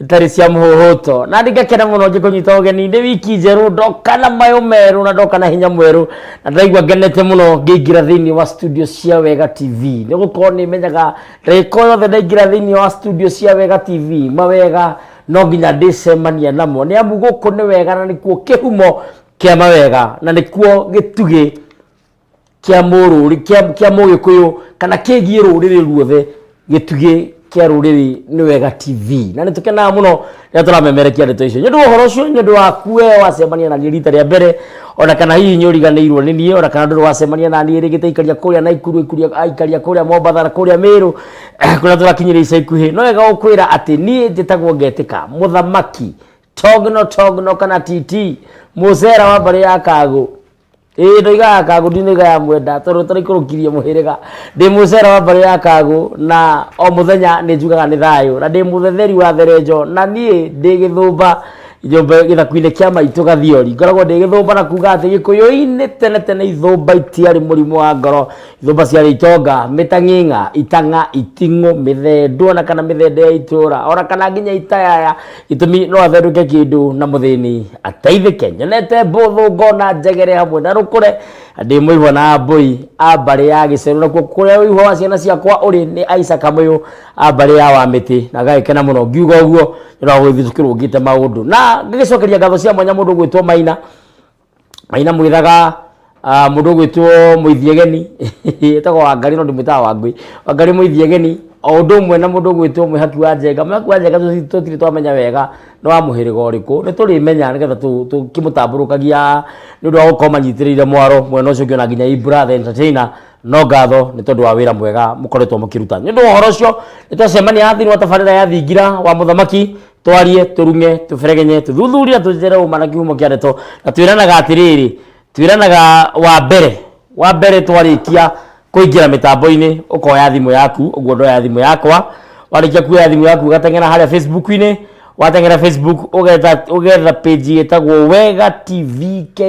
itarĩ cia mũhũhũto na ndingakena mũno ngĩkũnyita ũgeni ndĩ wiki njerũ ndoka na mayũ merũ na ndoka na hinya mwerũ na ndaigua ngenete mũno ngĩingĩra thĩinĩ wa studio cia wega tv nĩ gũkorwo nĩ menyaga ndagĩka o yothe ndaingĩra thĩinĩ wa studio cia wega tv mawega no nginya ndĩcemania namo nĩ amu gũkũ nĩ wega na nĩkuo kĩhumo kĩa mawega na nĩkuo gĩtugĩ kĩa mũrũrĩ kĩa kĩa mũgĩkũyũ kana kĩgiĩ rũrĩrĩ ruothe gĩtugĩ kĩa rũrĩrĩ nĩ wega tv na nĩ tũkenaga mũno rĩrĩa tũramemerekia ndeto icio nĩ ũndũ wa ũhoro ũcio nĩ ũndũ waku we wacemania na niĩ rita rĩa mbere ona kana hihi nĩ ũriganĩirwo nĩ niĩ ona kana ndũrĩ wacemania na niĩ rĩngĩ taikaria kũrĩa naikuru ikuria- aikaria kũrĩa mombatha na kũrĩa mĩrũ kũrĩa tũrakinyĩria ica ikuhĩ no wega gũkwĩra atĩ niĩ njĩtagwo ngetĩka mũthamaki togno togno kana titi mũcera wa mbarĩ ya kagũ ĩĩ ndoigaga kagũ ndinoiga ya mwenda tondũ tũraikũrũkirie mũhĩrĩga ndĩ mũcera wa mbarĩ ya kagũ na o mũthenya nĩ njugaga nĩ thayũ na ndĩ mũthetheri wa therenjo na niĩ ndĩ gĩthũmba nyũmba gĩthaku-inĩ kĩa maitũ gathiori ngoragwo ndĩ gĩthũmba na kuga atĩ gĩkũyũ-inĩ tene tene ithũmba itiarĩ mũrimũ wa ngoro ithũmba ciarĩ itonga mĩtang'ing'a itang'a iting'ũ mĩthendo ona kana mĩthendo ya itũra ona kana nginya itayaya Itũmi no atherũke kĩndũ na mũthĩni ateithĩke. Nyonete mbũthũ ngona njegere hamwe na rũkũre. Ndĩ mũihwa na mbũi a mbarĩ ya gĩcerũ nakuo kũrĩa ũihwa wa ciana ciakwa ũrĩ nĩ aica kamũyũ a mbarĩ ya wa mĩtĩ na ngagĩkena mũno ngiuga ũguo nĩ ũndũ wa gũgĩthiĩ tũkĩrũngĩte maũndũ na ngagĩcokeria ngatho cia mwanya mũndũ gwĩtwo Maina maina mwithaga ah, mundu gwitwo muithiegeni etagwo wangari no ndimwitaga wangui wangari muithiegeni o undu umwe na mundu gwitwo mwihaki wa njenga mwihaki wa njenga tuti- tutiri twamenya wega no wa muhiriga uriku ni turimenya nigetha tukimutamburukagia ni undu wa gukorwo manyitirire mwaro mwena ucio ngiona nginya ibra the entertainer no ngatho nä tondå wa wä ra mwega må koretwo må kä ruta nä å ndå wa å horo å cio nä twacemania thä wa tabarä ra ya thingira wa må thamaki twarie tũrung'e tũberegenye tũthuthuria tũtere ũma na kĩhumo kĩa ndeto na twĩranaga atĩrĩrĩ twĩranaga wa mbere wa mbere twarĩkia kũingĩra mĩtambo-inĩ ũkoya thimũ yaku ũguo ndoya thimũ yakwa warĩkia kuoya thimũ yaku ũgateng'era harĩa facebook-inĩ wateng'era facebook ũgetha ũgetha page ĩtagwo wega tv ke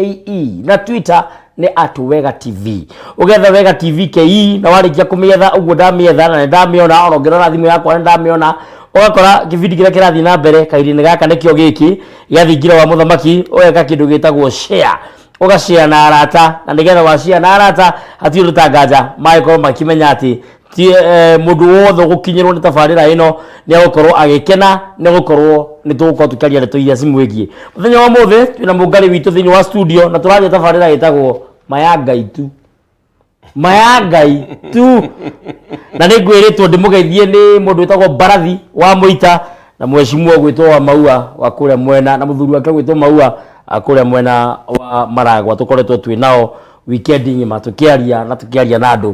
na twitter nä atå wega tv å getha wega tv kei na warä kia kå mä etha å guo ndamä etha na nä ndamä ona ona å ngä rora thimå yakwa nä ndamä ona ũgakora kĩbindi kĩrĩa kĩrathiĩ na mbere kahinda-inĩ gaka nĩkĩo gĩkĩ gĩa thingira wa mũthamaki ũgeka kĩndũ gĩtagwo share ũgacare na arata na nĩgetha wacare na arata hatirĩ ũndũ ta nganja magĩkorwo makĩmenya atĩ ti eh, mundu wothe gukinyirwo ni tabarira ino ni agukorwo agikena ni gukorwo ni tugukorwo tukiaria ndeto iria cimwigie muthenya wa muthi twina mungari witu thiini wa studio na turaria tabarira itagwo maya ngai tu maya ngai tu na nä ngwä rä two ndä må geithie nä må ndå wä tagwo mbarathi wa må ita na mwecimua gwä two wa maua wa kå rä a mwena na må thuri wake gwä two maua a kå rä a mwena wa maragwa tå koretwo twä nao wikendi ng'ima tå kä aria na tå kä aria na andå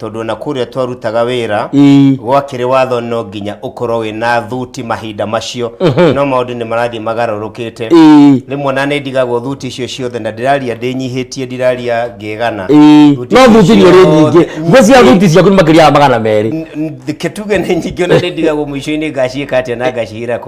tondũ ona kũrĩa twarutaga wĩra Ii. gwakĩrĩ watho no nginya ũkorwo wĩna thuti mahinda macio no maũndũ nĩ marathiĩ magarũrũkĩte Ii. rĩmwe na nĩ ndigagwo thuti icio ciothe na ndĩraria ndĩnyihĩtie ndiraria ngegana Ii. Thuti no icio thuti nĩ ũrĩ nyingĩ ciothe- ngwĩciria thuti ciaku nĩ makĩria ya magana merĩ N- n- kĩtuge nĩ nyingĩ ona nĩ ndigagwo mũico-inĩ ngaciĩka atĩa na ngacihĩra kũ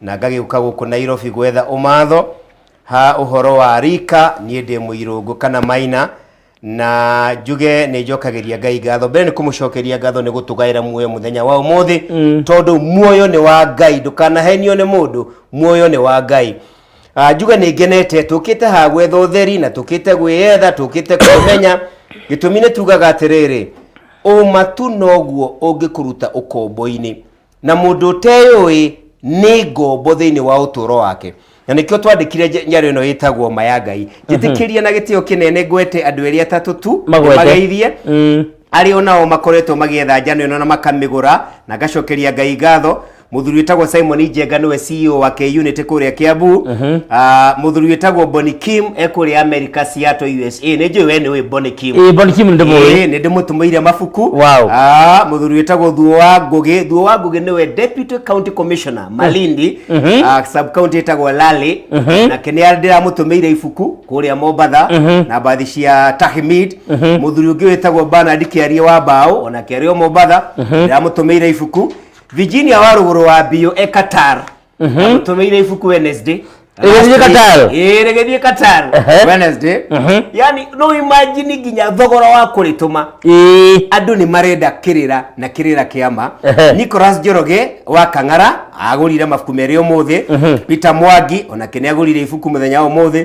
na ngagĩũka gũkũ nairobi gwetha ũmatho ha ũhoro wa rika niĩ ndĩ mũirũngũ kana maina na njuge nĩ njokagĩria ngai ngatho mbere nĩ kũmũcokeria ngatho nĩ gũtũgaĩra muoyo mũthenya wa ũmũthĩ tondũ muoyo nĩ wa ngai ndũkanahenio nĩ mũndũ muoyo nĩ wa ngai Ah, njuge nĩ ngenete tũkĩte haha gwetha ũtheri na tũkĩte gwĩyetha tũkĩte kwĩmenya gĩtũmi nĩ tugaga atĩrĩrĩ ũma tu noguo ũngĩkũruta ũkombo-inĩ na mũndũ ũteyũĩ nĩ ngombo thĩinĩ wa ũtũũro wake na nĩkĩo twandĩkire nja- njaro ĩno ĩtagwo ma ya ngai njĩtĩkĩria na gĩtĩo kĩnene ngwete andũ erĩ atatũ tu Magwete. mageithie Mm. arĩ o nao makoretwo magĩetha njano ĩno na makamĩgũra na ngacokeria ngai ngatho mũthuri wĩtagwo simon njenga nĩwe ceo wa k-unity kũrĩa kĩambu Ah, mũthuri wĩtagwo boni kim e kũrĩa america seattle us ĩ nĩ njũĩ we nĩ ũĩ Bonny Kim Ĩĩ, Bonny Kim nĩndĩmũĩ. Ĩĩ, nĩ ndĩmũtũmĩire mabuku Wow. Ah, mũthuri wĩtagwo thuo wa ngũgĩ thuo wa ngũgĩ nĩwe deputy county commissioner malindi Mhm. ah, sub county ĩtagwo lali Mhm. nake nĩ ndĩramũtũmĩire ibuku kũrĩa mombatha Mhm. na mbathi cia tahmid Mhm. mũthuri ũngĩ wĩtagwo banard kĩarie wa mbaũ ona kĩarie o mombatha Mhm. ndĩramũtũmĩire ibuku virginia wa rũgũrũ wa mbio e qatar tũmĩire ibuku Wednesday Rĩgĩthiĩ Qatar. Ĩĩ, rĩgĩthiĩ Qatar Ehe. Wednesday Mhm. yani no imagine nginya thogora wa kũrĩtũma Ĩĩ. andũ nĩ marenda kĩrĩra na kĩrĩra kĩama Ehe. nicolas njoroge wa kang'ara agũrire mabuku merĩ ũmũthĩ peter mwangi onake nĩ agũrire ibuku mũthenya wa ũmũthĩ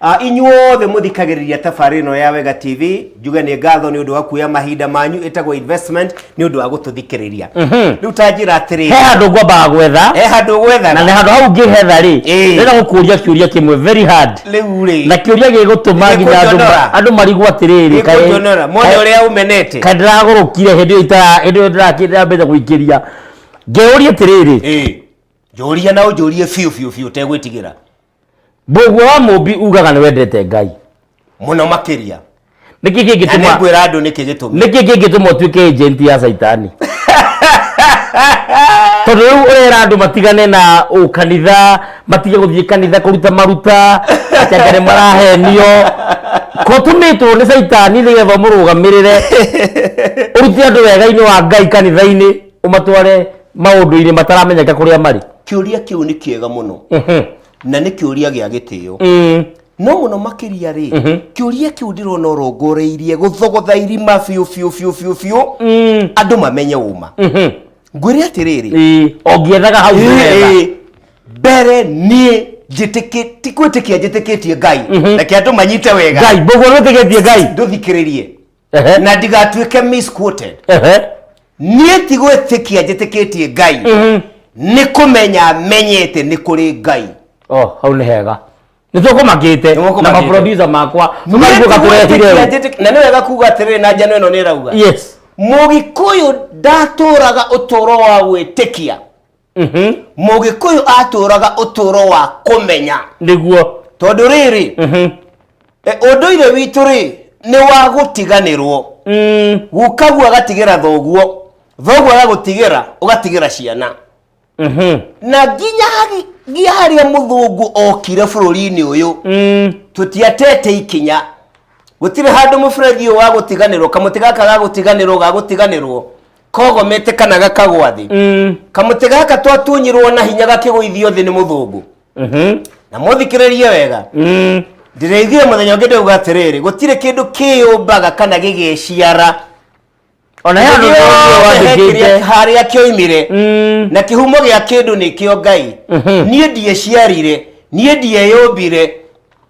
Ah, inyuothe mũthikagĩrĩria tabarĩ ĩno ya wega tv njuge nĩ ngatho nĩ ũndũ wa kuoya mahinda manyu ĩtagwo investment nĩ ũndũ wa gũtũthikĩrĩria rĩu ta njĩra atĩrĩ he handå ngwambaga gwetha he handå gwetha na nä handå hau ngä hetha rä Ĩĩ. rä na gå kå ria kä å ria kä mwe very hard rĩu rĩ na kä å ria gä gå tå ma nginya andũ ma- Nĩkũnjonora. andå marigwo atä rä rä nĩkũnjonora mone ũrĩa ũmenete kaä ndä ragå rå kire hä ndä ä yo ndärambeca gå ingä ria ngä å ria atä rä rä Ĩĩ. njũria na ũnjũrie biũ biũ biũ tegwĩtigĩra mũguo wa mũmbi ugaga nĩ wendete ngai mũno makĩria nĩkĩ na kĩngĩtũma nĩngwĩra andũ nĩkĩ gĩtũmi nĩkĩ kĩngĩtũma ũtuĩke agent ya caitani tondũ rĩu ũrera andũ matigane na ũkanitha matige gũthiĩ kanitha kũruta maruta atĩ anga nĩ marahenio ko tũmĩtwo nĩ caitani nĩgetha ũmũrũgamĩrĩre ũrute andũ wega-inĩ wa ngai kanitha-inĩ umatware maundu-ini mataramenyeka kuria mari kiuria kiu ni kiega muno Mhm. na ni kiuria gia gitio Mm. no muno makiria ri kiuria kiu ndirona urongoreirie guthogotha irima biu biu biu biu biu Mm. andu mamenye uma Mhm. ngwire atiriri Ĩĩ, ongiethaga hau wega. Ĩĩ, mbere niĩ njĩtĩkĩ- ti gwĩtĩkia njĩtĩkĩtie ngai reke andũ manyite wega ngai mbogo nĩtĩgĩtie ngai ndũthikĩrĩrie Ehe. na ndigatuĩke misquoted Ehe. niĩ ti gwĩtĩkia njĩtĩkĩtie ngai nĩ kũmenya menyete nĩ kũrĩ ngai Oh, hau nĩ hega nĩ tũkũmakĩte Nĩmũkũmakĩte. na maproducer makwa Niĩ tũkarugũka ti tũrehire gwĩtĩkia ũũ. njĩtĩk- na nĩ wega kuga atĩrĩrĩ na njano ĩno nĩ ĩrauga yes mũgĩkũyũ ndatũraga ũtũũro wa gwĩtĩkia Mhm. mũgĩkũyũ atũraga ũtũro wa kũmenya nĩguo tondũ rĩrĩ Mhm. e, ũndũire witũ rĩ nĩ wa gũtiganĩrwo Mm. gukaguo agatigĩra thoguo thoguo agagũtigĩra ũgatigĩra ciana Mhm. na nginya hagi- nginya harĩa mũthũngũ okire bũrũri-inĩ ũyũ Mm. tũtiatete ikinya gũtirĩ handũ mũberethi ũyũ wa gũtiganĩrwo kamũtĩ gaka ga gũtiganĩrwo ga gũtiganĩrwo kogomete kana gakagwa thĩ Mm. kamũtĩ gaka twatunyirwo na hinya gakĩgũithio thĩ nĩ mũthũngũ Mhm. na mũthikĩrĩrie wega Mm. ndĩrĩithire mũthenya ũngĩ ndauga atĩrĩrĩ gũtirĩ kĩndũ kĩyũmbaga kana gĩgĩciara ona ya ndu wandikite harĩa kĩoimire Mm. na kĩhumo gĩa kĩndũ nĩkĩo ngai Mhm. niĩ ndieciarire niĩ ndieyũmbire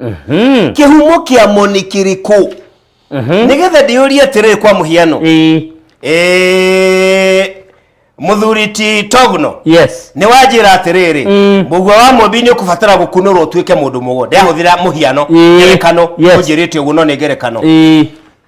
Mhm. kĩhumo kĩa mo nĩ kĩrĩkũ Mhm. nĩgetha ndĩyũrie atĩrĩrĩ kwa mũhiano Ĩĩ. Eh, mũthuri ti togno yes nĩ wanjĩra atĩrĩrĩ Mm. mũgua wa mũmbi nĩ ũkũbatara gũkunũrwo ũtuĩke mũndũ mũgo ndĩrahũthĩra mũhiano Ĩĩ. ngerekano Yes. ũnjĩrĩte ũguo no nĩ ngerekano Ĩĩ.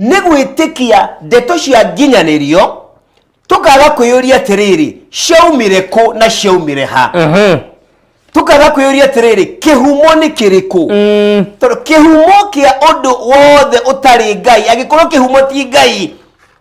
nĩ gwĩtĩkia ndeto cia nginyanĩrio tũkaga kwĩyũria atĩrĩrĩ ciaumire kũ na ciaumire ha Mhm. tũkaga kwĩyũria atĩrĩrĩ kĩhumo nĩ kĩrĩkũ Mm. tondũ kĩhumo kĩa ũndũ wothe ũtarĩ ngai angĩkorwo kĩhumo ti ngai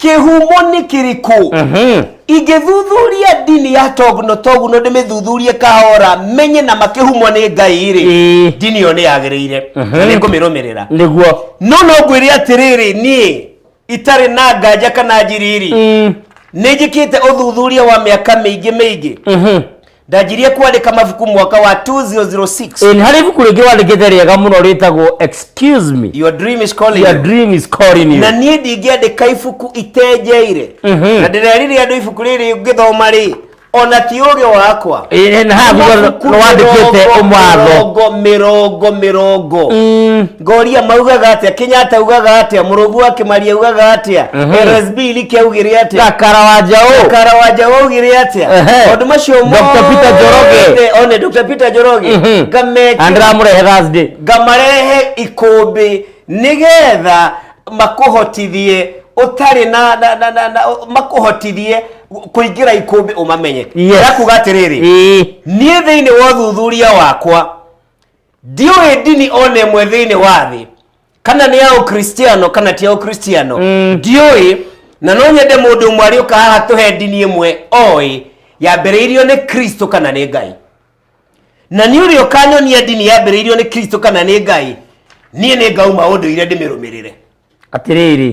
kĩhumo nĩ kĩrĩkũ ingĩthuthuria ndini ya toguno toguno ndĩmĩthuthurie kahora menye na makĩhumwo nĩ ngai rĩ Ĩĩ. ndini ĩyo nĩ yagĩrĩire na nĩ ngũmĩrũmĩrĩra nĩguo no no ngwĩre atĩrĩrĩ niĩ itarĩ na nganja kana njiriri nĩ njĩkĩte ũthuthuria wa mĩaka mĩingĩ mĩingĩ ndanjirie kwandĩka mabuku mwaka wa 2006 Eh, nĩ harĩ ibuku rĩngĩ wandĩkĩte rĩega mũno rĩtagwo excuse me your dream is calling your you. dream is calling you na niĩ ndingĩandĩka ibuku itenjeire Mhm. na ndĩrerire andũ ibuku rĩrĩ ngĩthoma rĩ ona ti ũgĩ wakwa Eh, na haha thutha Mabuku nĩ wandĩkĩte mĩrongo, ũmatho mĩrongo mĩrongo mĩrongo Mm. ngoria maugaga atia kenyatta ugaga atia murugu akimaria ugaga atia Mhm. rsb like augire atia gakara wa njaũ kara wa njaũ augire atia Ehe. maundu macio Dr. Peter Njoroge. mothe, one dr peter njoroge Mhm. ngamekĩra andĩramũrehe thursday ngamarehe ikũmbĩ nĩgetha makũhotithie ũtarĩ na, na, na, na, na makũhotithie kũingĩra ikũmbĩ ũmamenye Yes. ndakuga atĩrĩrĩ Ĩĩ. niĩ thĩinĩ wa ũthuthuria wakwa ndiũĩ ndini o na ĩmwe thĩinĩ wa thĩ kana nĩ ya ũkristiano kana ti ya ũkristiano ndiũĩ na no nyende mũndũ ũmwe arĩũka haha tũhe ndini ĩmwe oĩ yambĩrĩirio nĩ kristo kana nĩ ngai na nĩ ũrĩa ũkanyonia ndini yambĩrĩirio nĩ kristo kana nĩ ngai niĩ nĩ ngauma ũndũire ndĩmĩrũmĩrĩre atĩrĩrĩ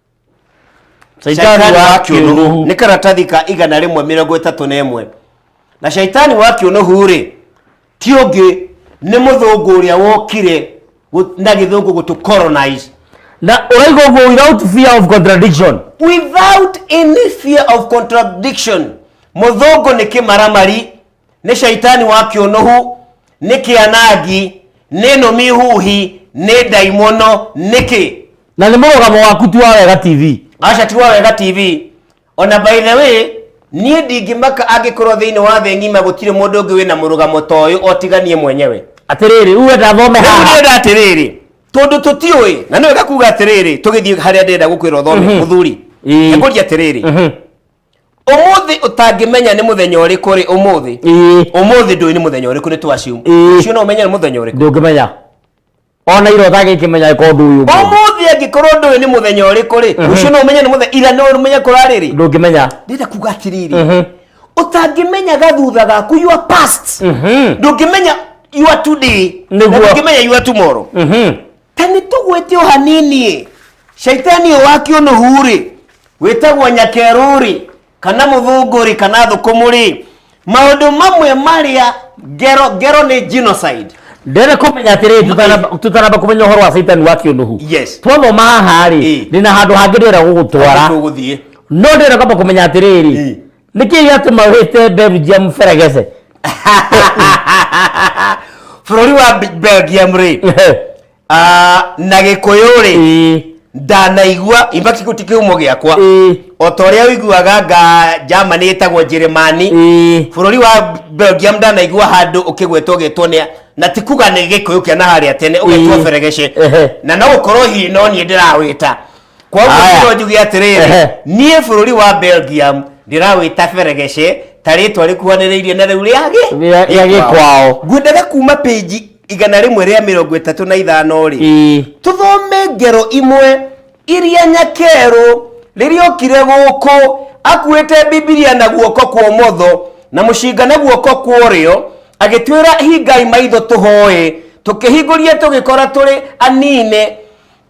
Shaitani wa kĩũnũhu nĩ karatathi ka igana rĩmwe mĩrongo ĩtatũ na ĩmwe na shaitani wa kĩũnũhu rĩ ti ũngĩ nĩ mũthũngũ ũrĩa wokire gũ- na gĩthũngũ gũtũ colonize na ũraiga ũguo without fear of contradiction without any fear of contradiction mũthũngũ nĩ kĩmaramari nĩ caitani wa kĩũnũhu nĩ kĩanangi nĩ nũmi huhi nĩ ndaimono nĩkĩ na nĩ mũrũgamo waku tu wa wega tv aca ti wa wega tv ona by the way niĩ ndingĩmaka angĩkorwo thĩinĩ wa thĩ ng'ima gũtirĩ mũndũ ũngĩ wĩna mũrũgamo ta ũyũ otiganie mwenyewe atĩrĩrĩ rĩu wenda thome rĩu haha ndĩrenda atĩrĩrĩ tondũ tũtiũĩ na nĩ wega kuga atĩrĩrĩ tũgĩthiĩ harĩa ndĩrenda gũkwĩra ũthome mũthuri Ĩĩ. ekũria atĩrĩrĩ umuthi utangimenya ni muthenya uriku ri umuthi ii umuthi ndui ni muthenya uriku ni twacium Ĩĩ. ucio no umenye ni muthenya uriku ndũngĩmenya ona ira ũtangĩkĩmenya ĩkorwo ndũĩ ũmwe umuthi angikorwo ndui ni muthenya uriku ri ucio no umenye ni muthenya ira no umenye kurari ri ndũngĩmenya ndenda kuga atiriri Mhm. utangimenya gathutha gaku your past Mhm. ndungimenya your today Nĩguo. na ndungimenya your tomorrow Mhm. ta nĩ tũgwĩte o hanini-ĩ caitani ũyũ wa kĩũnũhu-rĩ wĩtagwo nyakerũ-rĩ kana mũthũngũ-rĩ kana thũkũmũ-rĩ maũndũ mamwe marĩa ngero ngero nĩ genocide ndĩrenda kũmenya atĩrĩ tũtanamba- tũtanamba kũmenya ũhoro wa caitani wa kĩũnũhu Yes. twathoma haha-rĩ Ĩ. ndĩna handũ hangĩ ndĩrenda gũgũtwara tũgũthiĩ no ndĩrenda kwamba kũmenya atĩrĩrĩ Ĩ. nä kä gätå wä te belgium beregece bũrũri wa Be- belgium rĩ ah, na gĩkũyũ rĩ Ĩĩ, ndanaigua imaki ti kĩhumo gĩakwa ĩĩ, o ta ũrĩa ũiguaga nga germany ĩtagwo njĩrĩmani ĩĩ. bũrũri wa belgium ndanaigua handũ ũkĩgwetwo gĩtwo nĩ na ti kuga nĩ gĩkũyũ kĩa na harĩa tene ũgetwo Ĩĩ. beregece Ehe. na no gũkorwo hihi no niĩ ndĩrawĩta koguo Aya. no njuge atĩrĩrĩ Ehe. niĩ bũrũri wa belgium ndĩrawĩta beregece ta rĩtwa rĩkuhanĩrĩirie na rĩu rĩa gĩ- Rĩa- rĩa gĩkwao. ngwendaga kuma pĩnji igana rĩmwe rĩa mĩrongo ĩtatũ na ithano rĩ Ĩĩ. tũthome ngero imwe iria nyakerũ rĩrĩa okire gũkũ akuĩte bibilia na guoko kwa ũmotho na mũcinga na guoko kwa ũrĩo agĩtwĩra hingai maitho tũhoe tũkĩhingũria tũgĩkora tũrĩ anine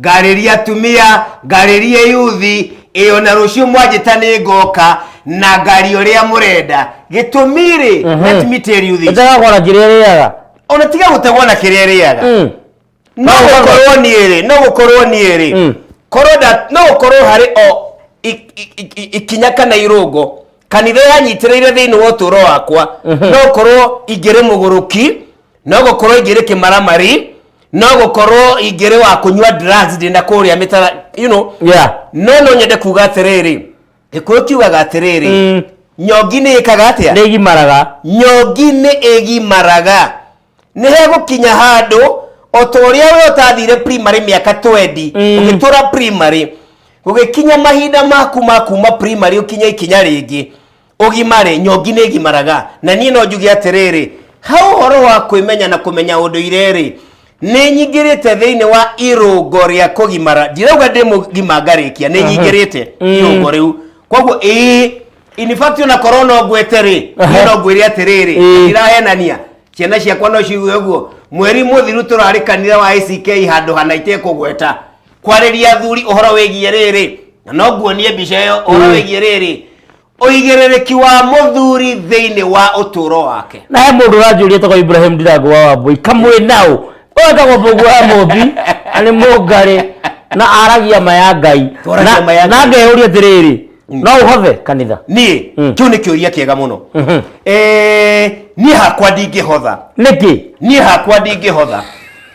ngarĩria atumia ngarĩria yuthi ĩyo na rũciũ mwanjĩta nĩ ngoka na ngari ũrĩa mũrenda gĩtũmi rĩ let me tell you this ĩtegakora kĩrĩa rĩaga ona tiga gũtegwo na kĩrĩa rĩaga Mm. no gũkorwo niĩ rĩ no gũkorwo niĩ rĩ Mm. korwo nda- no gũkorwo harĩ o i- i- i- i- ikinya kana irũngo kanitha yanyitĩrĩire thĩinĩ wa ũtũũro wakwa no gũkorwo ingĩrĩ mũgũrũki no gũkorwo ingĩrĩ kĩmaramari no gũkorwo ingĩrĩ wa kũnyua drugs ndĩna kũrĩa mĩtara you know yeah no no nyende kuga atĩrĩrĩ gĩkũyũ kiugaga atĩrĩrĩ Mm. nyongi nĩ ĩkaga atĩa nĩ igimaraga nyongi nĩ ĩgimaraga nĩ hegũkinya handũ o ta ũrĩa we ũtathire primary mĩaka 20 Mm. ũgĩtũra primary gũgĩkinya mahinda maku ma kuma primary ũkinya ikinya rĩngĩ ũgimare nyongi nĩ ngimaraga na niĩ no njuge atĩrĩrĩ ha ũhoro wa kwĩmenya na kũmenya ũndũire-rĩ nĩ nyingĩrĩte thĩinĩ wa irũngo rĩa kũgimara ndirauga ndĩ mũgima ngarĩkia nĩ nyingĩrĩte irũngo rĩu koguo ĩĩ in fact ona korwo no ngwete-rĩ niĩ no ngwĩre atĩrĩrĩ Ĩĩ. ndirahenania ciana ciakwa no ciuge ũguo mweri mũthiru tũrarĩ kanitha wa ACK handũ hana itekũgweta kwarĩria athuri ũhoro wĩgiĩ rĩrĩ na no nguonie mbica ĩyo ũhoro wĩgiĩ rĩrĩ ũigĩrĩrĩki wa mũthuri thĩinĩ wa ũtũũro wake na he mũndũ ũranjũria tagwo ibrahim ndirango wa wambui kamwĩ naũ wetagwo mũguo wa mũmbi na nĩ mũngarĩ na aragia ma ya ngai Twaragia ma ya Na- na Ngai. ngeyũria atĩrĩrĩ no ũhothe kanitha niĩ Mm. kĩu nĩ kĩũria kĩega mũno Mhm. Eh, niĩ hakwa ndingĩhotha nĩkĩ niĩ hakwa ndingĩhotha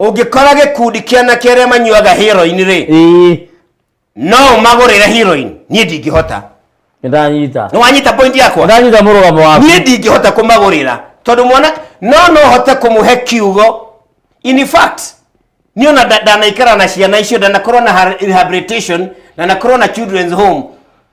ũngĩkora gĩkundi kĩa anake arĩa manyuaga heroin rĩ ĩĩ no ũmagũrĩre heroin niĩ ndingĩhota nĩndanyita nĩ wanyita point yakwa nĩndanyita mũrũgamo waku niĩ ndingĩhota kũmagũrĩra tondũ mwana no no hote kũmũhe kiugo in fact niĩ ona nda- ndanaikara na ciana icio ndanakorwo na ha- rehabilitation ndanakorwo na children's home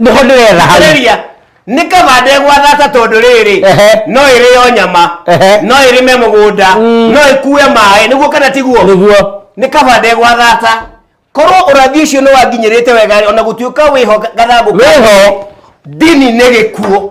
nä ho ndä retha hau Rĩrĩa, nĩ kaba ndegwathata tondũ rĩrĩ Ehe. no ĩrĩo nyama Ehe. no ĩrĩme mũgũnda Mm. no ĩkue maĩ nĩguo kana tiguo nĩguo nĩ kaba ndegwathata korwo ũrathi ũcio nĩ wanginyĩrĩte wega ona gũtuĩka wĩho gathangũ Wĩho. ndini nĩ gĩkuo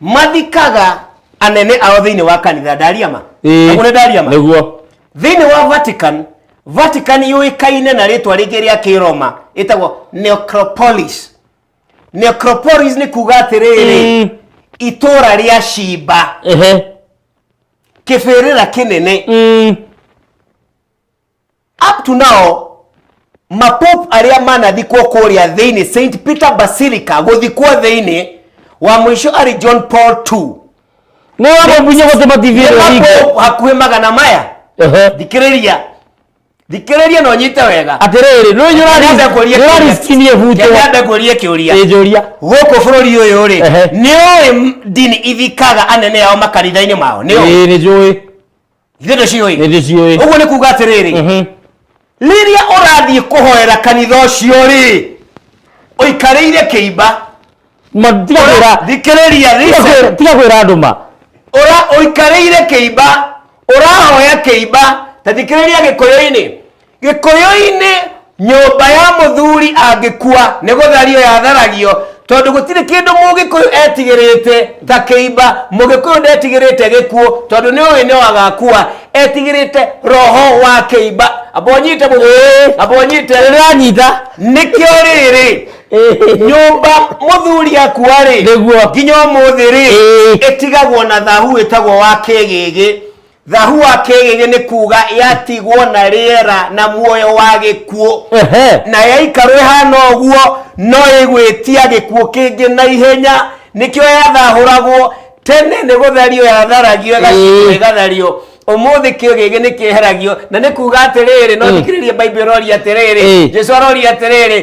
mathikaga anene ao thĩinĩ wa kanitha ndaria ma Ĩĩ. Aguo nĩ ndaria ma nĩguo thĩinĩ wa vatican vatican yũĩkaine na rĩtwa rĩngĩ rĩa kĩroma ĩtagwo necropolis necropolis nĩ kuga atĩrĩrĩ Mm. itũra rĩa cimba ehe kĩbĩrĩra kĩnene Mm. up to now mapope arĩa manathikwo kũrĩa thĩinĩ st peter basilica gũthikwo thĩinĩ wa mũico arĩ john paul ii nä wamũbunye gå tä matithirä Nĩ mapope hakuhĩ magana maya thikĩrĩria thikĩrĩria no nyite wega atä rä rä rä Nyambe ngũrie kĩũria. nyårariskinie butwo Nyambe ngũrie kĩũria njå ria gũkũ bũrũri ũyũ rĩ Ehe. nĩ ũĩ ndini ithikaga anene ao makanitha-inä mao nĩ ũĩ nä njå ä ithuĩ nĩ ciũĩ nĩ ndĩciũĩ ũguo nĩ kuga atĩrĩrĩ Mhm. rĩrĩa ũrathiĩ kũhoera kanitha ũcio rĩ ũikarĩire kĩimba Ma- tiga kwĩra- thikĩrĩria tiga listen. kwĩra- tiga kwĩra andũ ma ũra ũikarĩire kĩimba ũrahoya kĩimba ta thikĩrĩria gĩkũyũ-inĩ Gĩkũyũ-inĩ, nyũmba ya mũthuri angĩkua nĩ gũthario yatharagio tondũ gũtirĩ kĩndũ Mũgĩkũyũ etigĩrĩte ta kĩimba. Mũgĩkũyũ ndetigĩrĩte gĩkuũ tondũ nĩ ũĩ no agakua. Etigĩrĩte roho wa kĩimba. Amba ũnyite mũthuri. Ĩĩ. Amba ũnyite. Nĩ ndĩranyita. Nĩkĩo rĩrĩ, nyũmba mũthuri akua-rĩ, Nĩguo. nginya ũmũthĩ-rĩ, Ĩĩ. ĩtigagwo na thahu wĩtagwo wa kĩgĩgĩ. thahua kĩgĩgĩ nĩ kuga yatigwo na rĩera na muoyo wa gĩkuũ Ehe. na yaikarwo ĩhana ũguo no ĩgwĩtia gĩkuũ kĩngĩ na ihenya nĩkĩo yathahũragwo tene nĩ gũthario yatharagio ĩgacimwo Ĩĩ. ĩgathario ũmũthĩ kĩgĩgĩ nĩ kĩeheragio na nĩ kuga atĩrĩrĩ no Ĩĩ. thikĩrĩrie baibũ ĩroria atĩrĩrĩ Ĩĩ. jesu aroria atĩrĩrĩ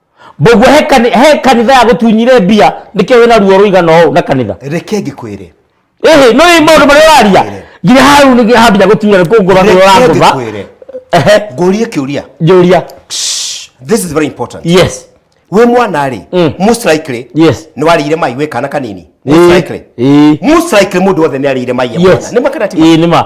Boguo he kani- he kanitha ya gũtunyire mbia nĩkĩo wĩna ruo rũigana ũũ na kanitha reke ngĩkwĩre ĩhĩ no ĩ maũndũ marĩa ũraria Ngĩkwĩre. nginya hau nĩ nginya hambia gũtunya nĩ kũngũra ruo reke rangũva ngĩkwĩre Ehe, ngũrie kĩũria njũria this is very important yes wĩ mwana rĩ Mm. most likely yes nĩ warĩire mai wĩ kana kanini Ĩĩ, most likely ĩĩ. most likely mũndũ wothe nĩ arĩire mai e mwana yes nĩ makana ti ma Ĩĩ, nĩ ma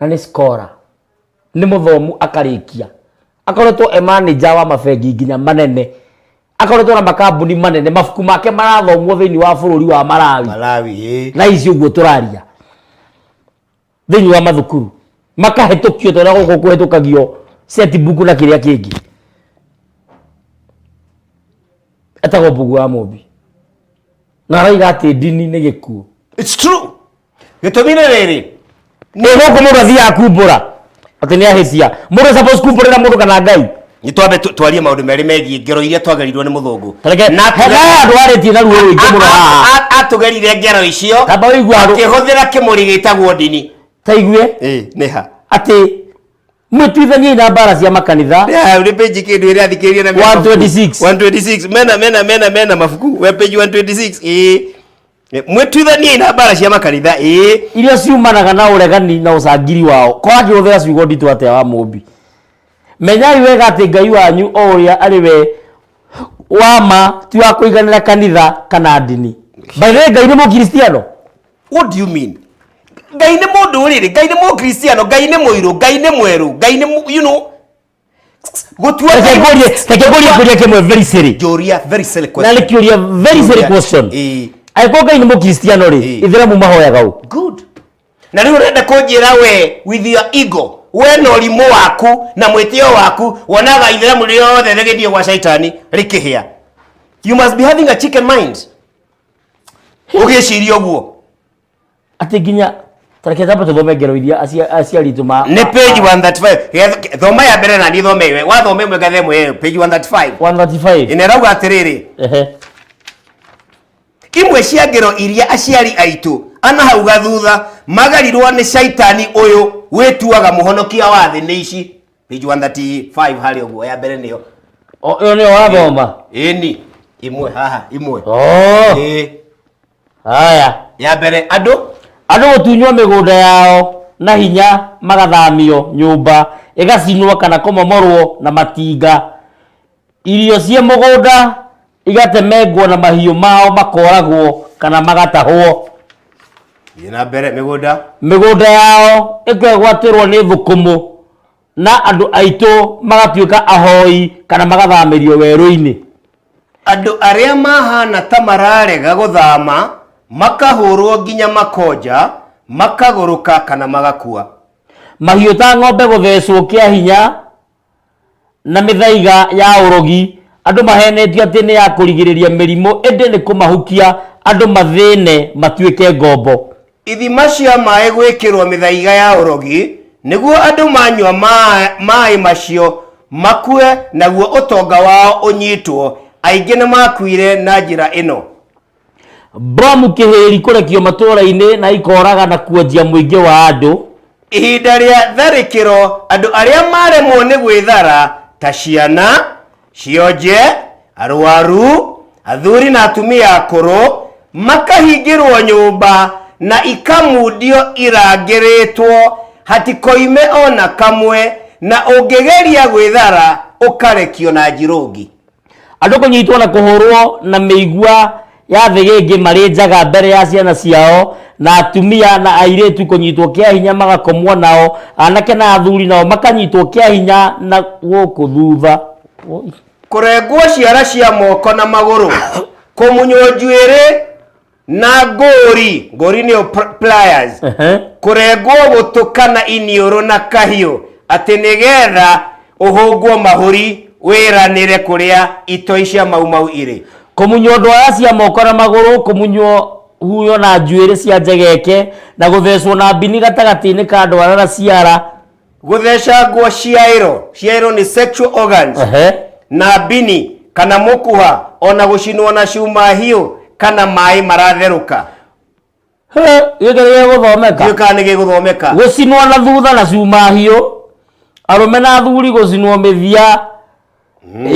na nĩ skora nĩ mũthomu akarĩkia akoretwo e manager wa mabengi nginya manene akoretwo na makambuni manene mabuku make marathomwo thĩinĩ wa bũrũri wa marawi malawi ĩ thaa ici ũguo tũraria thĩinĩ wa mathukuru makahĩtũkio tondũ gũkũ kũhĩtũkagio setbuku na kĩrĩa kĩngĩ etagwo mbugu wa mũmbi na araiga atĩ ndini nĩ gĩkuũ It's true. gĩtũmi nĩ rĩrĩ nä gå kå må ndå athiaga kumbå atä nä ahä tia må ndå suppose kumbå rä ra må ndå kana ngai nĩ twambe tu- twarie maũndũ merĩ megiĩ ngero iria twagerirwo nĩ mũthũngũ tareke Na- hena andå arä tie na ruo rwä ingä må no A- haha a- a- atũgerire ngero icio tamba wä igua andå akĩhũthĩra kĩmũrĩ gĩtagwo ndini taigue Ĩ, nĩ ha atä mwä tuithaniai na mbara cia makanitha Ya, nĩ page kĩndũ ĩrĩa athikĩrĩria na mena mabuku. 126. 126 mena mena mena mena mabuku we page 126 ĩ Eh, mwĩtuithaniei na mbara cia makanitha ĩĩ iria ciumanaga na ũregani na ũcangiri wao kwanja ũthera ciugo nditũ atĩa wa mũmbi menyai wega atĩ ngai wanyu o ũrĩa arĩ we wa ma ti wa kũiganĩra kanitha kana ndini baithĩ ngai nĩ mũkristiano what do you mean ngai nĩ mũndũ rĩrĩ ngai nĩ mũkristiano ngai nĩ mũirũ ngai nĩ mwerũ ngai nĩ mũ- you know Gũtua Reke thayũ- ngũrie- reke ngũrie ngũria kĩmwe very silly. Njũria very silly na question. nĩ kĩũria very silly Njũria- question Ĩĩ. angĩkorwo ngai nĩ mũkristiano rĩ Ĩĩ. ithĩramu mahoyaga ũ Good. na rä u renda kå njä ra we with your ego we na å rimå waku na mwä tä o waku wonaga itheramu riothe rä gä thiä gwa caitani rä kä hä a you must be having a chicken mind å gä ciria å guo atä nginya tareke thamba tå thome ngero iria acia- aciari aitå ma nä page 135 Geth- thoma ya mbere na niä thome ĩwe. wathoma ĩmwe ngathe ĩmwe ĩyo, page 135 135 ĩna ĩrauga atä rä rä ehe imwe cia ngero iria aciari aitũ ana hau gathutha magarirwo nĩ caitani ũyũ wĩtuaga mũhonokia wa thĩ nĩ ici page 135 harĩ ũguo ya mbere nĩyo O- ĩyo nä yo wathoma ĩni imwe haha imwe oh Ĩĩ. haya ya mbere andũ andũ gũtunywo mĩgũnda yao na hinya magathamio nyũmba ĩgacinwo kana kũmomorwo na matinga irio ciĩ mũgũnda igatemengwo na mahiũ mao makoragwo kana magatahwo thiĩ na mbere mĩgũnda mĩgũnda yao ĩkegwatĩrwo nĩ thũkũmũ na andũ aitũ magatuĩka ahoi kana magathamĩrio werũ-inĩ andũ arĩa mahana ta mararega gũthama makahũrwo nginya makonja makagũrũka kana magakua mahiũ ta ng'ombe gũthecwo kĩa hinya na mĩthaiga ya ũrogi andũ mahenetio atĩ nĩ ya kũrigĩrĩria mĩrimũ ĩndĩ nĩ kũmahukia andũ mathĩne matuĩke ngombo Ithima cia maĩ gwĩkĩrwo mĩthaiga ya ũrogi, nĩguo andũ manyua ma- maĩ macio makue, naguo ũtonga wao ũnyitwo. Aingĩ nĩmakuire na njĩra ĩno. Mbomu kĩhĩri kũrekio matũũra-inĩ na ikoraga na kuanjia mũingĩ wa andũ. Ihinda rĩa tharĩkĩro, andũ arĩa maremwo nĩ gwĩthara, ta ciana, cionje arwaru athuri na atumia akũrũ makahingĩrwo nyũmba na ikamundio irangĩrĩtwo hatikoime ona kamwe na ũngĩgeria gwĩthara ũkarekio na njirũngi andũ kũnyitwo na kũhũrwo na mĩigua ya thĩgĩngĩ marĩ njaga mbere ya ciana ciao na atumia na airĩtu kũnyitwo kĩa hinya magakomwo nao anake na athuri nao makanyitwo kĩa hinya na gũkũ thutha Oi. kũrengwo ciara cia moko na magũrũ kũmunywo njuĩrĩ na ngũri ngũri nĩyo pr- pliers Ehe. kũrengwo gũtũ kana iniũrũ na kahiũ atĩ nĩgetha ũhũngwo mahũri wĩranĩre kũrĩa itoi cia maumau irĩ Kũmunywo ndwaya cia moko na magũrũ, kũmunywo huyo na njuĩrĩ cia njegeke, na gũthecwo na mbini gatagatĩ-inĩ ka ndwara na ciara. Gũthecangwo ciaĩro, ciaĩro nĩ sexual organs, Ehe. na mbini kana mũkuha, o na gũcinwo na cuma hiũ kana maĩ maratherũka. gĩkĩ gĩgũthomeka ndiũĩ kana nĩ gĩgũthomeka gũcinwo na thutha na cuma hiũ arũme na athuri gũcinwo mĩthia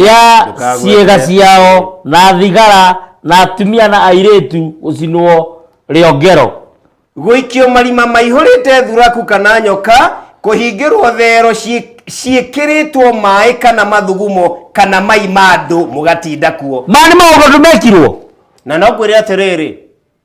ya ndũkagwete. ciĩga ciao na thigara na atumia na airĩtu gũcinwo rĩongero gũikio marima maihũrĩte thuraku kana nyoka kũhingĩrwo thero ciĩ- ciĩkĩrĩtwo maĩ kana mathugumo kana mai ma andũ mũgatinda kuo maya nĩ maũndũ andũ mekirwo na no kwĩrĩ atĩrĩrĩ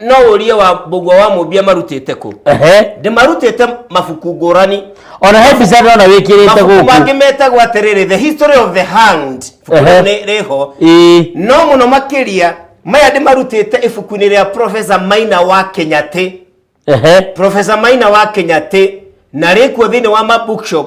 no ũrie wa mbũgua wa mũmbia marutĩte kũ ehe ndĩmarutĩte mabuku ngũrani ona he mbica ndona wĩkĩrĩte mabuku gũkũ mangĩ metagwo atĩrĩrĩ the history of the hand Ehe. ibuku rĩu nĩ rĩho Ĩĩ. no mũno makĩria maya ndĩmarutĩte ibuku-inĩ rĩa profesa maina wa kenyatĩ ehe profesa maina wa kenyatĩ na rĩkuo thĩinĩ wa ma bookshop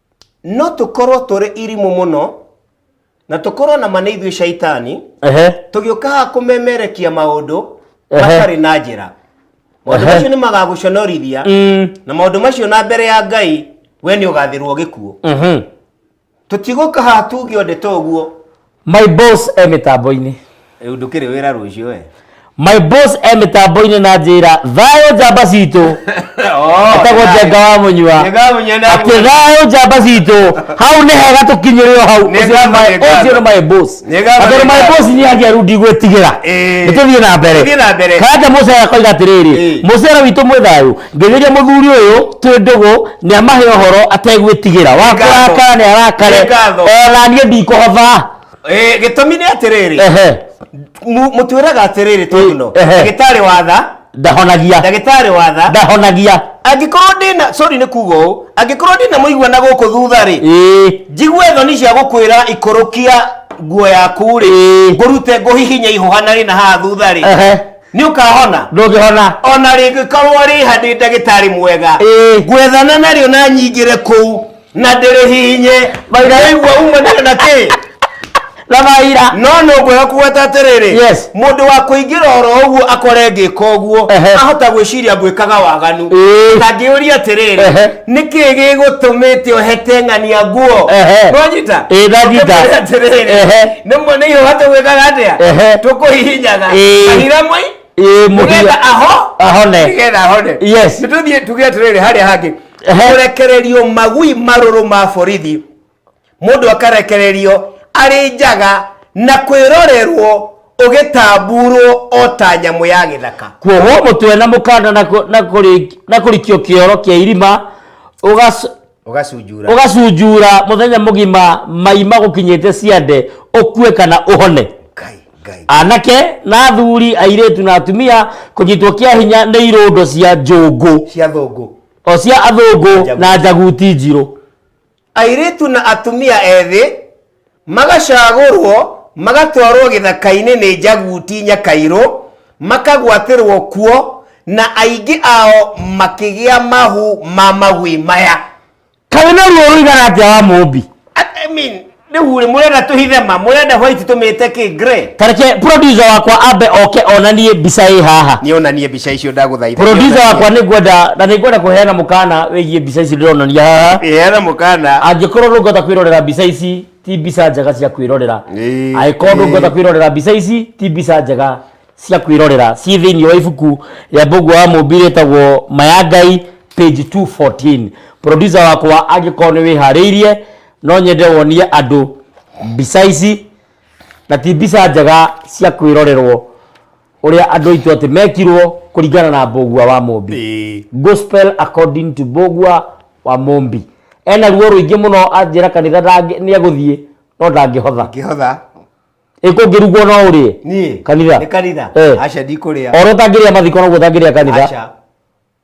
no tũkorwo tũrĩ irimũ mũno na tũkorwo na ma nĩ ithuĩ caitani Ehe. tũgĩũka haha kũmemerekia maũndũ Ehe. matarĩ na njĩra maũndũ Ehe. macio nĩ magagũconorithia Mm. na maũndũ macio na mbere ya ngai we nĩ ũgathĩrwo gĩkuũ Mhm. tũtigũka haha tuge ũndũ ta ũguo My boss e mitambo-ini. Rĩu ndũkĩrĩ wĩra rũciũ we. My boss e mitambo-ini na njira thayo njamba citu. Atagwo jenga wa munywa. Ati thayo njamba citu. Hau ni hega tukinyire hau. Ucio ni my boss. Ati my boss ni agia rudi gwetigira. Nituthie na mbere. Kaja Musa akoiga atiriri. Musa witu mwe thayo. Ngĩthĩria mũthuri ũyũ twĩ ndũgũ nĩ amahe ũhoro ategwĩtigĩra wa Nĩ ngatho. kũrakara nĩ arakare Nĩ ngatho. ona niĩ ndikũhotha Eh, gĩtũmi nĩ atĩrĩrĩ ehe mu- mũtwĩraga atĩrĩrĩ tũguno Ehe. ndagĩtarĩ watha ndahonagia ndagĩtarĩ watha ndahonagia angĩkorwo ndĩna sorry nĩ kuga ũũ angĩkorwo ndĩna mũigua na gũkũ thutha rĩ ĩĩ njigue thoni cia gũkwĩra ikũrũkia nguo yaku rĩ Ĩĩ. ngũrute ngũhihinye ihũha na rĩ na haha thutha rĩ ehe nĩ ũkahona ndũngĩhona o na rĩngĩkorwo rĩ ha ndĩ ndagĩtarĩ mwega Ĩĩ. ngwethana narĩo na nyingĩre kũu na ndĩrĩhihinye Maira. waigua umanire na kĩ na maira no nĩ ũkwega kũgweta atĩrĩrĩ Yes. mũndũ wa kũingĩra oro ũguo akore ngĩka ũguo Ehe. ahota gwĩciria ngwĩkaga waganu Ĩĩ. na ngĩũria atĩrĩrĩ Ehe. nä kä gä gå tå mä te å heteng'ania nguo Ehe. nwanyita Ĩ, ndanyita. Ehe. nä mwene ihåha tå gwä kaga atä a Ehe. tå kå hihinyaga Ĩ. kahira mwai Ĩ, mũhia. nĩgetha aho Ahone. nĩgetha ahone Yes. nĩtũthiĩ tuge atĩrĩrĩ harĩa hangĩ Ehe. kũrekererio magui marũrũ ma borithi mũndũ akarekererio arĩ njaga na kwĩrorerwo ũgĩtambuurwo o ta nyamũ ya gĩthaka kuohwo mũtwe na mũkanda na kũ- na kũrĩ- na kũrikio kĩoro kĩa irima ũgac- ũgacunjura ũgacunjura mũthenya mũgima mai magũkinyĩte ciande ũkue kana ũhone Ngai, Ngai. anake na athuri airĩtu na atumia kũnyitwo kĩa hinya nĩ irũndo cia njũngũ cia thũngũ o cia athũngũ Njaguti. na njaguti njirũ airĩtu na atumia ethĩ magacagũrwo magatwarwo gĩthaka-inĩ nĩ njaguti nyakairũ makagwatĩrwo kuo na aingĩ ao makĩgĩa mahu ma magwĩ maya kaĩ na ruo rũigana atĩa wa mũmbi I mean, rĩu rĩ mũrenda tũhithe ma mũrenda white tũmĩte kĩ grey tareke producer wakwa ambe oke onanie mbica ĩ haha nĩonanie mbica icio ndagũthaitha producer wakwa nĩ ngwenda na nĩ ngwenda kũheana mũkana wĩgiĩ mbica ici ndĩronania haha heana mũkana angĩkorwo ndũngĩhota kwĩrorera mbica ici ti mbica njega cia kwĩrorera Ĩĩ. angĩkorwo ndũngĩhota kwĩrorera mbica ici ti mbica njega cia kwĩrorera ciĩ thĩinĩ wa ibuku rĩa mbũngũ wa mũmbi rĩtagwo maya ngai page 214 producer wakwa angĩkorwo nĩ wĩharĩirie no nyende wonie andũ mbica ici na ti mbica njega cia kwĩrorerwo ũrĩa andũ aitũ atĩ mekirwo kũringana na mbũgua wa mũmbi Ĩĩ. gospel according to mbũgua wa mũmbi ena ruo rũingĩ mũno anjĩra kanitha ndangĩ- nĩegũthiĩ no ndangĩhotha ngĩhotha ĩkũngĩrugwo no ũrĩe niĩ kanitha nĩ kanitha Eh. aca ndikũrĩa oro ũtangĩrĩa mathiko noguo ũtangĩrĩa kanitha aca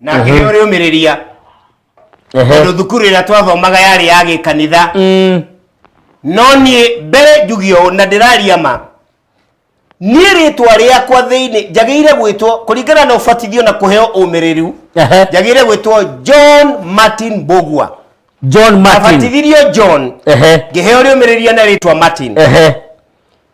na ngĩheo rĩũmĩrĩria tondũ thukuru ĩrĩa twathomaga yarĩ ya gĩkanitha Mm. no niĩ mbere njuge ũũ na ndĩraria ma niĩ rĩtwa rĩakwa thĩinĩ njagĩire gwĩtwo kũringana na ũbatithio na kũheo ũmĩrĩru Ehe. njagĩire gwĩtwo john martin bogua john martin abatithirio john Ehe. ngĩheo rĩũmĩrĩria na rĩtwa martin Ehe.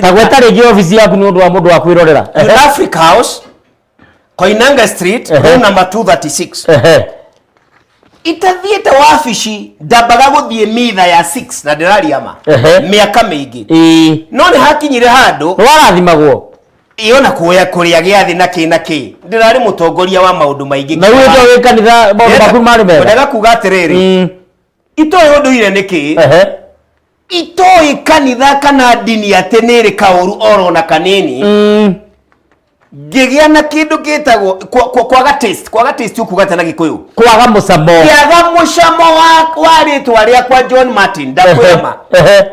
Ta gweta rĩngĩ obici yaku nĩ ũndũ wa mũndũ wa kwĩrorera. Ehe. Africa House, Koinange Street, Ehe. room number 236. Ehe. Itathiĩte wabici ndambaga gũthiĩ mitha ya 6 na ndĩraria ma. Ehe. Mĩaka mĩingĩ. Ĩĩ. No nĩ hakinyire handũ Nĩ warathimagwo. yona kuoya kũrĩa gĩathĩ na kĩ na kĩ. Ndĩrarĩ mũtongoria wa maũndũ maingĩ. Na uwĩte wĩ kanitha maũndũ maku marĩ mega. Ndaga kuga atĩrĩrĩ, Mm. itoĩ ũndũire nĩ kĩ? Ehe. itoĩ kanitha kana ndini atĩ nĩ ĩrĩ kaũru oro na kanini mm. ngĩgĩa na kĩndũ gĩtagwo kwaga taste kwaga taste ukuga atĩa na gĩkũyũ kwaga mũcamo kĩaga mũcamo wa wa rĩtwa rĩakwa John Martin ndakwĩma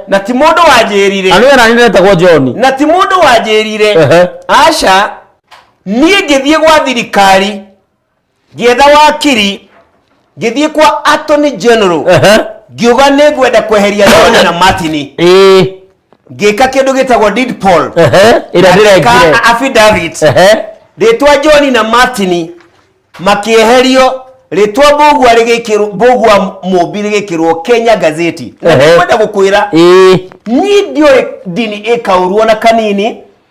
na ti mũndũ wanjĩrire na nĩwe nani ndetagwo John na ti mũndũ wanjĩrire aca niĩ ngĩthiĩ gwa thirikari ngĩetha wakiri ngĩthiĩ kwa attorney general Aha. ngiuga nĩ ngwenda kweheria John na Martin Ĩĩ. ngĩka kĩndũ gĩtagwo deed poll Aha. Ĩrĩa ndĩrekire. Ngĩka affidavit Aha. rĩtwa John na Martin makĩeherio rĩtwa mbũgua rĩgĩkĩrwo mbũgua mũmbi rĩgĩkĩrwo Kenya gazeti na Ehe. nĩkwenda gũkwĩra Ĩĩ. niĩ ndiũĩ ndini ĩkaurwo na kanini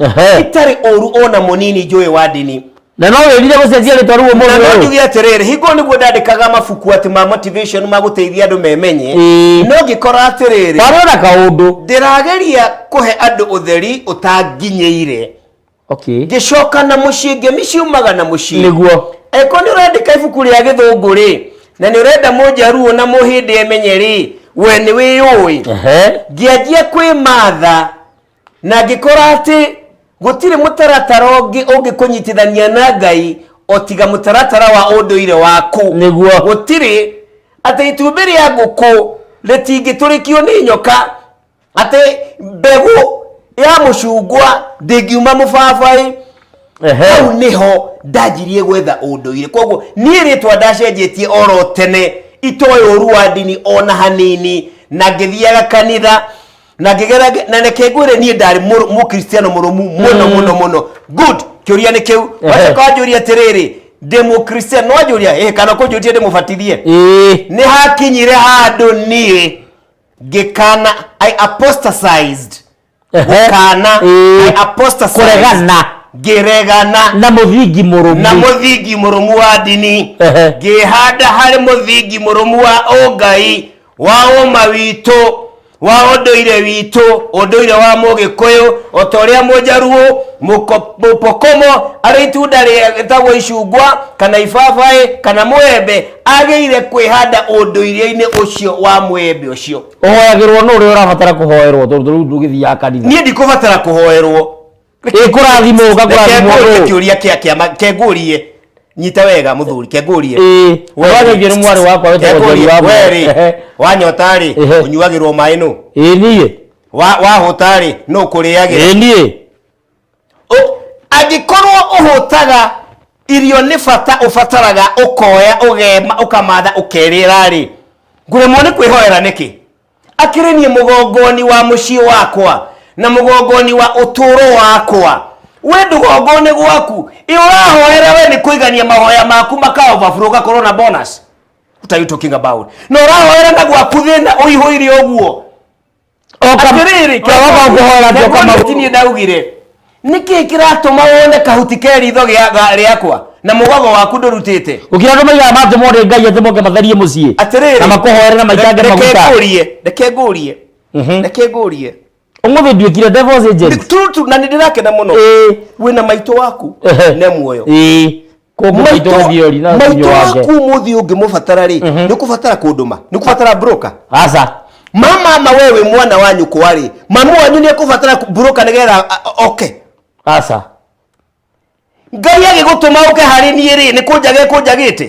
Ehe. itarĩ ũru ona mũnini njũĩ wa ndini na no wĩrire gũcenjia rĩtwa rĩu na no ũmũthĩ ũyũ njuge atĩrĩrĩ hingo nĩguo ndandĩkaga mabuku atĩ ma motivation ma gũteithia andũ memenye Ĩĩ. no ngĩkora atĩrĩrĩ warĩ ona kaũndũ ndĩrageria kũhe andũ ũtheri ũtanginyĩire okay ngĩcoka na mũciĩ ngemi ciumaga na mũciĩ nĩguo angĩkorwo nĩ ũrandĩka ibuku rĩa gĩthũngũ rĩ na nĩ ũrenda mũnjaruo na mũhĩndĩ emenye rĩ we nĩ wĩyũĩ Ehe. ngĩanjia kwĩmatha na ngĩkora atĩ gũtirĩ mũtaratara ũngĩ ũngĩkũnyitithania na ngai o tiga mũtaratara wa ũndũire waku Nĩguo. gũtirĩ atĩ itumbĩ rĩa ngũkũ rĩtingĩtũrĩkio nĩ nyoka atĩ mbegũ ya mũcungwa ndĩngiuma mũbabaĩ Ehe. hau nĩho ndanjirie gwetha ũndũire koguo niĩ rĩtwa ndacenjetie oro tene itoĩ ũru wa ndini ona hanini na ngĩthiaga kanitha na ngĩgera ngĩ- na reke ngwĩre niĩ ndarĩ mũrũ- mũkristiano mũrũmu mũno mũno mũno good kĩũria nĩ kĩu Ehe. wacoka wanjũria atĩrĩrĩ ndĩ mũkristiano no wanjũria ĩ kana kũnjũtie ndĩ mũbatithie ĩĩ nĩ hakinyire handũ niĩ ngĩkana i apostatized Ehe. gũkana Ĩĩ. i apostatized Kũregana. ngĩregana na mũthingi mũrũmu na mũthingi mũrũmu wa ndini Ehe. ngĩhanda harĩ mũthingi mũrũmu wa ũngai wa ũma witũ wa ũndũire witũ ũndũire wa mũgĩkũyũ o ta ũrĩa mũnjaruũ mũko- mũpokomo arĩ itunda rĩtagwo icungwa kana ibabaĩ kana mũembe agĩire kwĩhanda ũndũire-inĩ ũcio wa mũembe ũcio ũhoyagĩrwo nũ ũrĩa ũrabatara kũhoerwo tondũ rĩu ndũgĩthiaga kanitha niĩ ndikũbatara kũhoerwo ä kå rathimå Reke ngũrie ngakå kĩũria kĩa kĩama kengũrie nyita wega mũthuri kengũrie wageithio nĩ mwarĩ wakwa wetagwo Njeri wa Mũrũa. werĩ Ehe. wanyota rĩ Ehe. ũnyuagĩrwo maĩ nũ ä niä Wa- wahũta rĩ nũ ä kũrĩagĩra niä Ũ- angĩkorwo ũhũtaga irio nĩ bata ũbataraga ũkoya ũgema ũkamatha ũkerĩra rĩ ngũremwo nĩ kwĩhoera nĩkĩ akĩrĩ niĩ mũgongoni wa mũciĩ wakwa na mũgongoni wa ũtũũro wakwa we ndũgongone gwaku ĩ ũrahoera we nĩ kũigania mahoya maku makaoverflow ũgakorwo na bonus what are you talking about na ũrahoera na gwaku thĩna ũihũire ũguo atĩrĩrĩ Jehova ũkũhoera njoka magũrũ. tinie ndaugire nä kä kä ratå ma wone kahuti ke ritho gĩa- ga- rĩakwa na må gogo waku ndå rutä te gå kä ra andå maigaga matå mone ngai atä moke matherie må ciä atĩrĩrĩ na makåhoere na maitange reke maguta ngũrie reke ngũrie Mhm. reke ngũrie å må thä nduä kire Nĩ- tu- tu- na nĩ ndĩrakena mũno Ĩĩ. wĩna maitũ waku Ehe. ne muoyo Ĩĩ. Kũngũ maitũ gũthiĩ ũri na maitũ ũthiũ wange. waku mũthĩ ũngĩmũbatara rĩ nĩ kũbatara kũndũma nĩ kũbatara broka aca mama ma wewe mwana wa nyũkwa rĩ mamu wanyu nĩ ekũbatara broka nĩgetha a- a- oke aca ngai agĩgũtũma ũke harĩ niĩ rĩ nĩ kũnjaga ekũnjagĩte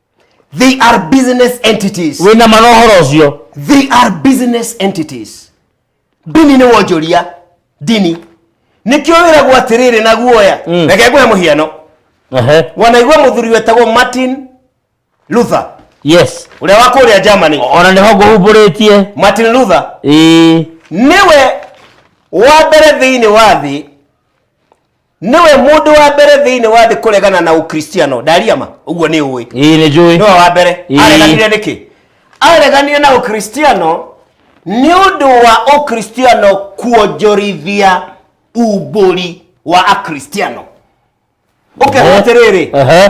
They are business entities. wä na ma na å horo å cio They are business entities. Ndini nĩ wonjoria. Ndini. Nĩkĩo wĩragwo atĩrĩrĩ na guoya. Mm. Reke ngũhe mũhiano. Ehe. Wanaigua mũthuri wetagwo Martin Luther yes ũrĩa wa kũrĩa Germany. ona nä ho ngå humbå rä tie Martin Luther ä nĩwe wa mbere thĩinĩ wa thĩ nĩwe mũndũ wa mbere thĩinĩ wa thĩ kũregana na ũkristiano ndaria ma ũguo nĩ ũĩ ĩĩ nĩ njũĩ nĩwe wa mbere Ĩĩ. areganire nĩkĩ areganire na ũkristiano nĩ ũndũ wa ũkristiano kuonjorithia umbũri wa akristiano ũkera Ehe. atĩrĩrĩ Ehe.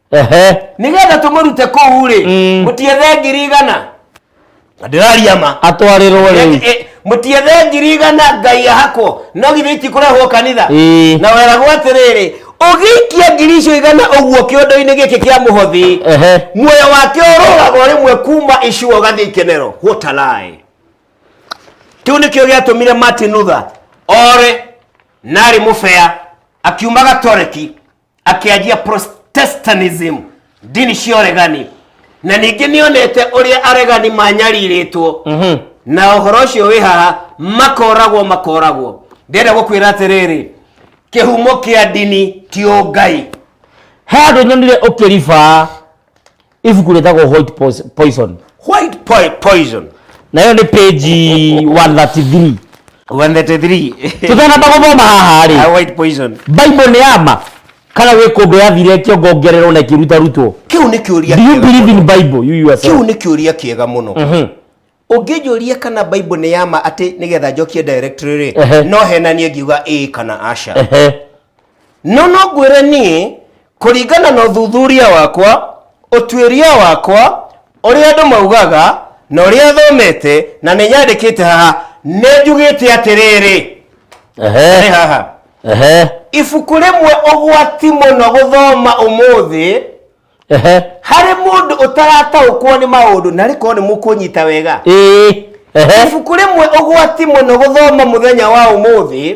ehe nigetha tumurute kuu ri Mm. mutiethe ngiri igana na ndiraria ma atwarirwo riu Eh, eh, mutiethe ngiri igana ngai ahakwo no githĩ itikurehwo kanitha Ĩĩ. na weragwo atĩrĩrĩ ũgĩikia ngiri icio igana ũguo kĩondo-inĩ gĩkĩ kĩa mũhothi ehe muoyo wake ũrũgagwo rĩmwe kuma icuo ũgathiĩ ikenero what a lie kĩu nĩkĩo gĩatũmire martin luther ore narĩ mũbea akiuma gatoreki akĩanjia protestantism ndini cia ũregani na ningĩ nĩ onete ũrĩa aregani manyarirĩtwo na ũhoro ũcio wĩ haha makoragwo makoragwo ndĩrenda gũkwĩra atĩrĩrĩ kĩhumo kĩa ndini ti ũngai he andå nyonire å kä riba ibuku rĩtagwo white Pos- poison white po- poison nayo nĩ page 133 133 tũtanamba gũthoma haha Ah, rĩ white poison bible nĩ yama kana wĩ kũndũ yathiretio ngongererwo na ĩkĩrutarutwo kä u nä kä å ria do you believe in bible you yourself kĩu nĩ kĩũria kĩega mũno ũngĩnjũria kana bible nĩ yama atĩ nĩgetha njokie directory rĩ Ehe. no henanie ngiuga ĩĩ kana aca Ehe. no no ngwĩre niĩ kũringana na ũthuthuria wakwa ũtuĩria wakwa ũrĩa andũ maugaga na ũrĩa thomete na nĩ nyandĩkĩte haha nĩ njugĩte atĩrĩrĩ nĩ Ehe. haha Ehe. ibuku rĩmwe ũgwati mũno gũthoma ũmũthĩ Ehe. harĩ mũndũ ũtarataũkwo nĩ maũndũ na rĩkorwo nĩ mũkũnyita wega Ĩĩ. Ehe. ibuku rĩmwe ũgwati mũno gũthoma mũthenya wa ũmũthĩ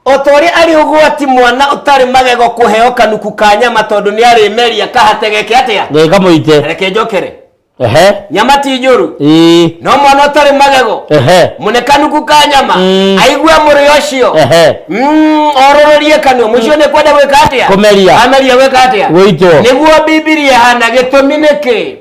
o ta ũrĩa arĩ ũgwati mwana ũtarĩ magego kũheo kanuku ka nyama tondũ nĩ arĩmeria kahatege ke atĩa Ngai kamũite. reke njokere ehe nyama ti njũru ii no mwana ũtarĩ magego ehe mũnekanu kuka nyama Mm. aigue mũrĩo ũcio ehe Mm, orũrũrie kanua mũcio nĩ kwenda gwĩka atĩa Kũmeria. ameria gwĩka atĩa Gũitwo. nĩguo bibilia ĩhana gĩtũmi nĩkĩ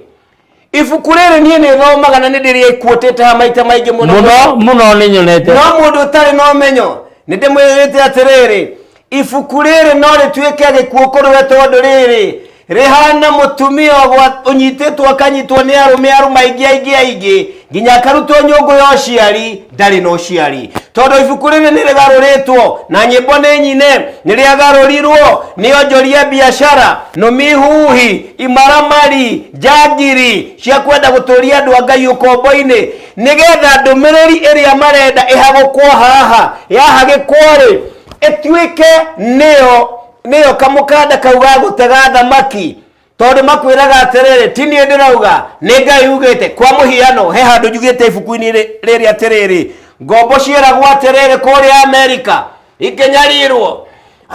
ibuku rĩrĩ niĩ nĩ thomaga na nĩ ndĩrĩkuotete ha maita maingĩ mũno mũno mũno nĩ nyonete no mũndũ ũtarĩ na ũmenyo nĩ ndĩmwĩrĩte atĩrĩrĩ ibuku rĩrĩ no rĩtuĩke gĩkuũ kũrĩ we tondũ rĩrĩ rĩhana mũtumia ũgwa- ũnyitĩtwo akanyitwo nĩ arũme arũme aingĩ aingĩ aingĩ nginya akarutwo nyũngũ ya ũciari ndarĩ na ũciari tondũ ibuku rĩrĩ nĩ rĩgarũrĩtwo na nyĩmbo nĩ nyine nĩ rĩagarũrirwo nĩ onjoria biacara nũmihuhi imaramari njangiri cia kwenda gũtũria andũ a ngai ũkombo-inĩ nĩgetha ndũmĩrĩri ĩrĩa marenda ĩhagũkwo haha yahagĩkwo-rĩ ĩtuĩke nĩyo nĩyo kamũkanda kau ga gũtega thamaki tondũ makwĩraga atĩrĩrĩ ti niĩ ndĩrauga nĩ ngai ugĩte kwa mũhiano he handũ njugĩte ibuku-inĩ rĩ- rĩrĩ atĩrĩrĩ ngombo ciĩragwo atĩrĩrĩ kũrĩa amerika ikĩnyarirwo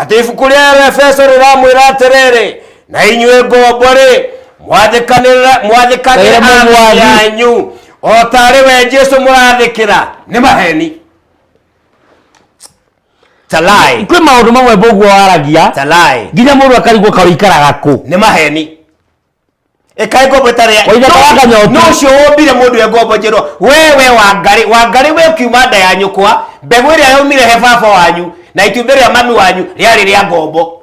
atĩ ibuku rĩa efeso rĩramwĩra atĩrĩrĩ na inyuĩ ngombo rĩ mwathĩkanĩra mwathĩkanĩra Kaĩra mũmwathi. athani yanyu o ta arĩ we jesu mũrathĩkĩra nĩ maheni Talai. kwä maå ndå mamwe mboguo waragia Talai. nginya må ndå akarigwo ka ikaraga kå Nĩ maheni. Ĩkaĩ ngombo ĩtarĩ ya- Waithaka No- waga nyotu. no ũcio wombire mũndũ e ngombo njerũ wewe wangarĩ wangarĩ we ũkiuma nda ya nyũkwa mbegũ ĩrĩa yaumire he baba wanyu na itumbĩ rĩa mami wanyu rĩarĩ rĩa ngombo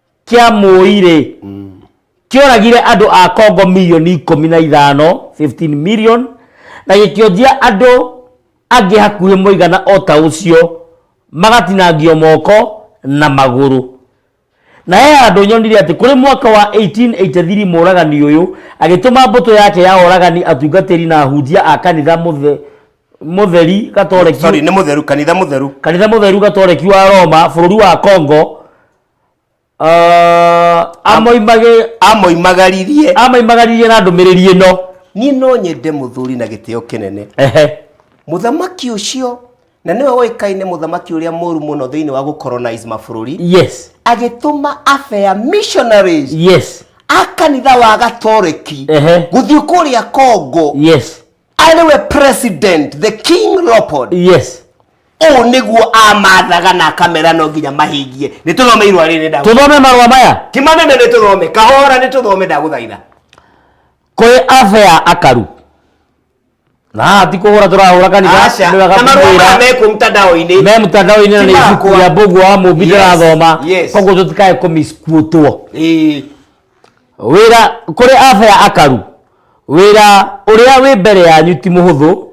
kĩa mũi-rĩ kĩoragire andũ a Kongo milioni ikũmi na ithano 15 million na gĩkĩonjia andũ angĩ hakuhĩ mũigana o ta ũcio magatinangio moko na magũrũ na he handũ nyonire atĩ kũrĩ mwaka wa 1883 mũragani ũyũ agĩtũma mbũtũ yake ya oragani atungatĩri na ahunjia a kanitha mũthe- mũtheri gatoreki sorry nĩ mũtheru kanitha mũtheru kanitha mũtheru gatoreki wa Roma bũrũri wa Congo Ah, amoimage- amoimagaririe amoimagaririe na ndũmĩrĩri ĩno niĩ no nyende mũthuri na gĩtĩo kĩnene Ehe. mũthamaki ũcio na nĩwe ũĩkaine mũthamaki ũrĩa mũru mũno thĩinĩ wa gũcolonize mabũrũri yes agĩtũma afea missionaries yes a kanitha wa gatoreki Ehe. gũthiĩ kũrĩa kongo yes arĩ we president the king leopold yes ũũ nĩguo amathaga na akamera no nginya mahingie nĩ tũthome irwa rĩrĩ nda tũthome marũa maya ti manene nĩ tũthome kahora nĩ tũthome ndagũthaitha kwĩ afea akaru na haha ti kũhũra tũrahũra kanitha Aca, nĩ wega na marũa kũmwĩra. maya mekwo mtandao-inĩ me mtandao-inĩ na Ti nĩ ibuku makwa. rĩa mbũgu wa mũmbi Yes, ndĩrathoma yes. koguo tũtikae kũmiskuotwo Ĩĩ. Wĩra kũrĩ abea akaru, wĩra ũrĩa wĩ mbere yanyu ti mũhũthũ,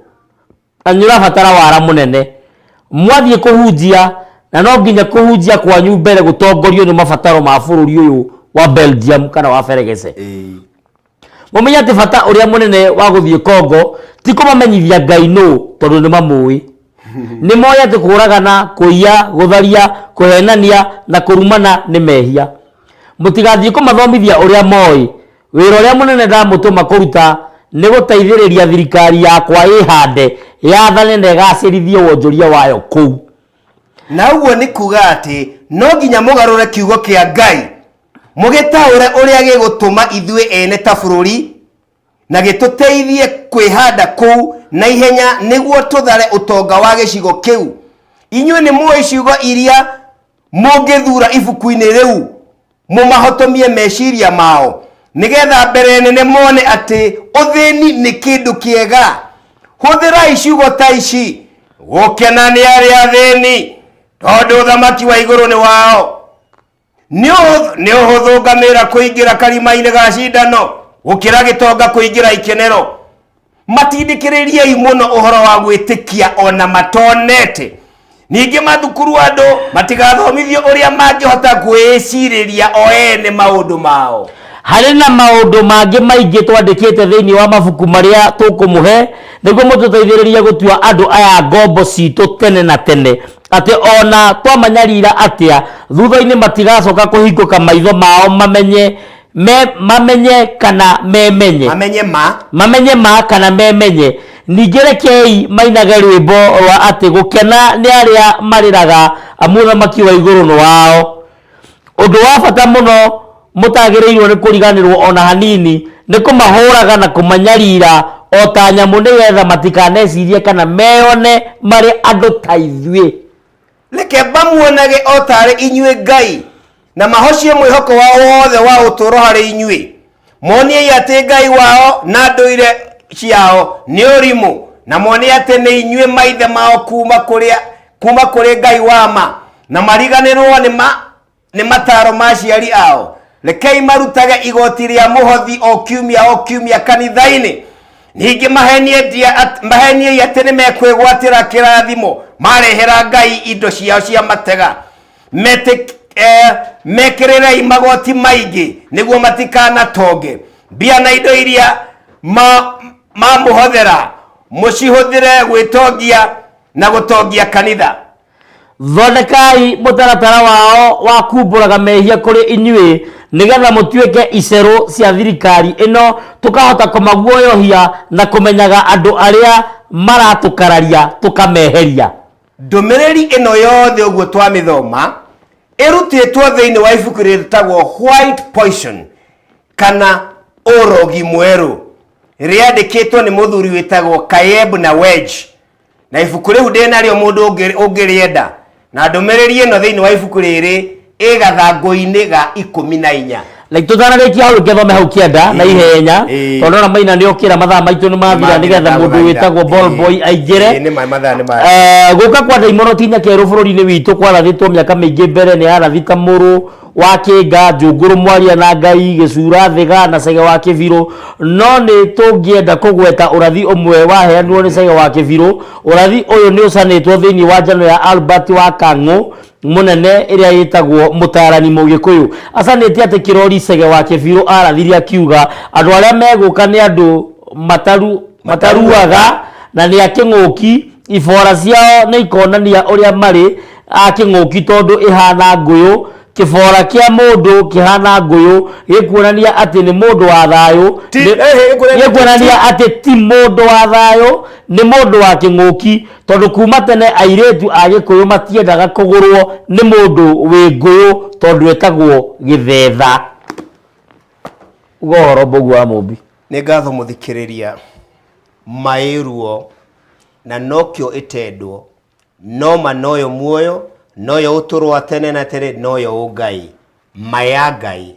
na nĩ ũrabatara wara mũnene. Mwathiĩ kũhunjia, na no nginya kũhunjia kwanyu mbere gũtongorio nĩ mabataro ma bũrũri ũyũ wa Belgium kana wa Feregese. Mũmenye atĩ bata ũrĩa mũnene wa gũthiĩ Congo ti kũmamenyithia Ngai nũ tondũ nĩ mamũĩ. nĩ moĩ atĩ kũũragana kũiya gũtharia kũhenania na kũrumana nĩ mehia mũtigathiĩ kũmathomithia ũrĩa moĩ wĩra ũrĩa mũnene ndamũtũma kũruta nĩ gũteithĩrĩria thirikari yakwa ĩhande yathane na ĩgacĩrithie wonjoria wayo kũu na ũguo nĩ kuga atĩ no nginya mũgarũre kiugo kĩa ngai mũgĩtaũre ũrĩa gĩgũtũma ithuĩ ene ta bũrũri na gĩtũteithie kwĩhanda kũu na ihenya nĩguo tũthare ũtonga wa gĩcigo kĩu inyuĩ nĩ mũĩ ciugo iria mũngĩthura ibuku-inĩ rĩu mũmahotomie meciria mao nĩgetha mbere nene mone atĩ ũthĩni nĩ kĩndũ kĩega hũthĩrai ciugo ta ici gũkena nĩ arĩa athĩni tondũ ũthamaki wa igũrũ nĩ wao nĩ ũhũthũ- nĩ ũhũthũ ngamĩra kũingĩra karima-inĩ ga cindano gũkĩra gĩtonga kũingĩra ikenero matindĩkĩrĩriei mũno ũhoro wa gwĩtĩkia ona matonete ningĩ mathukuru andũ matigathomithio ũrĩa mangĩhota kwĩĩcirĩria o ene maũndũ mao harĩ na maũndũ mangĩ maingĩ twandĩkĩte thĩinĩ wa mabuku marĩa tũkũmũhe nĩguo mũtũteithĩrĩrie gũtua andũ aya ngombo citũ tene na tene Atĩ o na twamanyariira atĩa, thutha-inĩ matigacoka kũhingũka maitho mao mamenye me, mamenye kana memenye mamenye ma mamenye ma kana memenye ningĩ rekei mainage rwĩmbo rwa atĩ gũkena nĩ arĩa marĩraga amu ũthamaki wa igũrũ nĩ wao Ũndũ wa bata mũno mũtagĩrĩirũo nĩ kũriganĩrũo o na hanini nĩ kũmahũraga na kũmanyarira o ta nyamũ nĩgetha matikanecirie kana meyone marĩ andũ ta ithuĩ. Reke mamuonage o ta arĩ inyuĩ Ngai, na mahocie mwĩhoko wao wothe wa ũtũũro harĩ inyuĩ. moniei atĩ ngai wao na ndũire ciao nĩ ũrimũ na mone atĩ nĩ inyuĩ maithe mao kuma kũrĩa kuma kũrĩ ngai wa ma na mariganĩrwo nĩ ma nĩ mataro ma aciari ao rekei marutage igoti rĩa mũhothi o kiumia o kiumia kanitha-inĩ ningĩ mahenie ndia at- maheniei atĩ nĩ mekwĩgwatĩra kĩrathimo marehera ngai indo ciao cia matega Metik- eh, mekĩrĩrei magoti maingĩ nĩguo matikanatonge mbia na indo iria ma- mamũhothera mũcihũthĩre gwĩtongia na gũtongia kanitha thondekai mũtaratara wao wa kumbũraga mehia kũrĩ inyuĩ nĩgetha mũtuĩke icerũ cia thirikari ĩno tũkahota kũmaguoyohia na kũmenyaga andũ arĩa maratũkararia tũkameheria Ndũmĩrĩri ĩno yothe ũguo twamĩthoma ĩrutĩtwo thĩinĩ wa ibuku rĩtagwo White Poison kana ũrogi mwerũ rĩandĩkĩtwo nĩ mũthuri wĩtagwo Kayeb na Wedge na ibuku rĩu ndĩnarĩo mũndũ ũngĩrĩenda na ndũmĩrĩri ĩno thĩinĩ wa ibuku rĩrĩ ĩ gathangũ-inĩ ga ikũmi na inya like tũtanarĩkia hau rĩngĩ thome hau kĩanda na ihenya Ĩĩ. tondũ ona maina nĩ okĩra mathaa maitũ nĩ mathira nĩgetha mũndũ wĩtagwo ball boy aingĩre nĩ maĩ mathaa nĩ maĩ Eh, gũka kwa ndaimono ti nyaka erũ bũrũri-inĩ witũ kwarathĩtwo mĩaka mĩingĩ mbere nĩ arathi ta mũrũ wa kĩnga njũngũrũ mwaria na ngai gĩcura thĩga na cege wa kĩbirũ no nĩ tũngĩenda kũgweta ũrathi ũmwe waheanirwo nĩ cege wa kĩbirũ ũrathi ũyũ nĩ ũcanĩtwo thĩinĩ wa njano ya albert wa kang'ũ mũnene ĩrĩa ĩtagwo mũtaarani mũgĩkũyũ acanĩtie atĩ kĩrori cege wa kĩbirũ arathiri akiuga andũ arĩa megũka nĩ andũ mataru, mataruaga na nĩ akĩng'ũki ibora ciao nĩ ikonania ũrĩa marĩ akĩng'ũki tondũ ĩhana ngũyũ kĩbora kĩa mũndũ kĩhana ngũyũ gĩkuonania atĩ nĩ mũndũ wa thayũ Ti- Nĩ- eh, eh, gĩkuonania- gĩkuonania atĩ ti mũndũ wa thayũ nĩ mũndũ wa kĩng'ũki Tondũ kuma tene airĩtu a Gĩkũyũ matiendaga kũgũrwo nĩ mũndũ wĩ ngũyũ tondũ etagwo gĩthetha. Uga ũhoro mbũgu wa mũmbi. Nĩ ngatho mũthikĩrĩria, maĩruo na nokĩo ĩtendwo, noma noyo muoyo, noyo ũtũrwa tene na tene, noyo ũngai, maya ngai,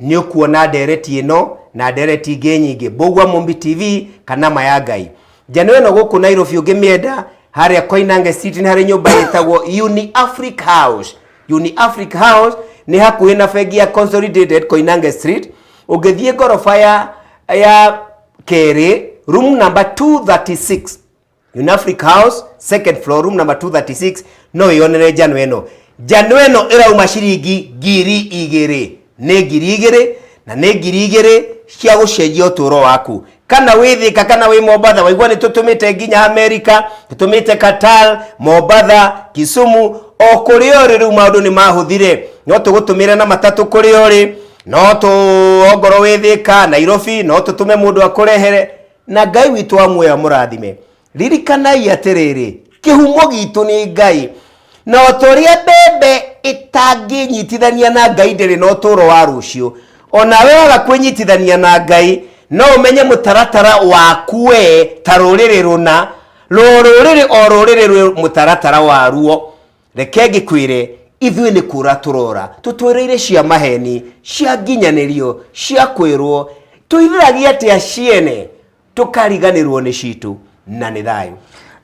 nĩ ũkuona ndereti ĩno na ndereti ingĩ nyingĩ mbũgua mombi tv kana ma ya ngai njano ĩno gũkũ nairobi ũngĩmĩenda harĩa koinange city nĩ harĩ nyũmba ĩtagwo uni afric house uni afric house nĩ hakuhĩ na bengi ya consolidated koinange street ũngĩthiĩ ngoroba ya ya kerĩ room number 236 Unafric House second floor room number 236 no yonere njano ĩno njano ĩno ĩrauma ciringi ngiri igĩrĩ nĩ ngiri igĩrĩ na nĩ ngiri igĩrĩ cia gũcenjia ũtũũro waku kana wĩ thika kana wĩ mombatha waigua nĩ tũtũmĩte nginya amerika tũtũmĩte qatar mombatha kisumu o kũrĩa ũrĩ rĩu maũndũ nĩ mahũthire no tũgũtũmĩre na matatũ kũrĩa ũrĩ no tũ ongorwo wĩ thika nairobi no tũtũme mũndũ akũrehere na ngai witũ wa muoyo amũrathime ririkanai atĩrĩrĩ kĩhumo gitũ nĩ ngai na o ta ũrĩa mbembe ĩtangĩnyitithania na ngai ndĩrĩ na ũtũũro wa rũciũ o nawe waga kwĩnyitithania na ngai no ũmenye mũtaratara waku we ta rũrĩrĩ rũna rũo rũrĩrĩ o rũrĩrĩ rwĩ mũtaratara waruo reke ngĩkwĩre ithuĩ nĩ kũra tũrora tũtwereire cia maheni cia nginyanĩrio cia kwĩrwo tũirĩragia atĩa ciene tũkariganĩrwo nĩ citũ na nĩ thayũ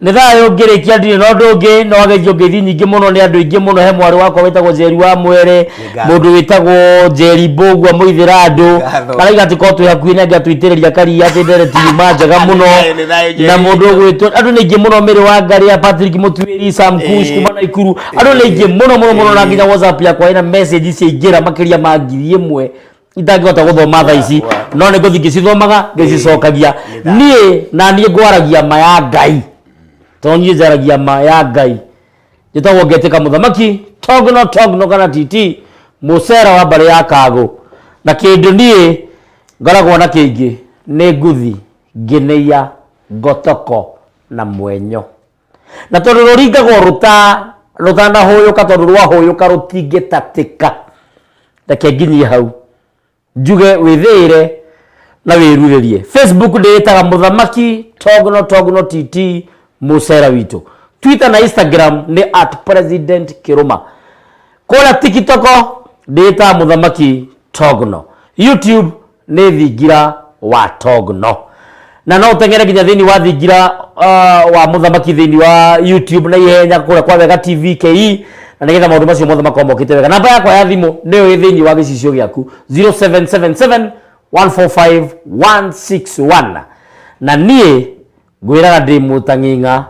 nä thayå ngä rä kia ndirä na å ndå å ngä no ageithio ngeithi nyingä må no nä andå aingä må no he mwarä wakwa wä tagwo njeri wa mwere Ngatho. mundu witagwo njeri mbugua muithira andu Ngatho. araiga ati ko twi hakuhi nake atuitiriria karia ati ndere tiuma njega muno Nĩ thayũ, nĩ thayũ, Njeri. na mundu ugwitwo andu ni aingi muno miri wa ngari ya patrick mutuiri sam kush Eh. kuma na ikuru andu ni aingi muno muno muno na nginya whatsapp yakwa ina message ciaingira makiria ma ngiri imwe itangihota guthoma tha ici Wa- no nä ngå thi ngä cithomaga ngä Eh, cicokagia nĩ tha. niä na niä ngwaragia ma ya ngai tondå niä njaragia ma ya ngai njĩtagwo ngetĩka mũthamaki togno togno kana titi mũcera wa mbarĩ ya kagũ na kĩndũ niĩ ngoragwo na kĩingĩ nĩ nguthi ngĩnĩia ngotoko na mwenyo na tondũ rũringagwo rũta rũtanahũyũka tondũ rwahũyũka rũtingĩtatĩka reke nginyie hau njuge wĩthĩĩre na wĩrurĩrie facebook ndĩĩtaga mũthamaki togno togno tt mũcera witũ twitter na instagram nĩ at president kĩrũma kũrĩa tikitoko ndĩĩtaga mũthamaki togno youtube nĩ thingira wa togno na no ũteng'ere nginya thĩinĩ wa thingira uh, wa mũthamaki thĩinĩ wa youtube na ihenya kũrĩa kwa wega tv ke na nĩgetha maũndũ macio mothe makorwo mokĩte wega namba yakwa ya thimũ nĩyo ĩ thĩinĩ wa gĩcicio gĩaku 0777 145 161 na niĩ ngwĩraga ndĩ mũtang'ing'a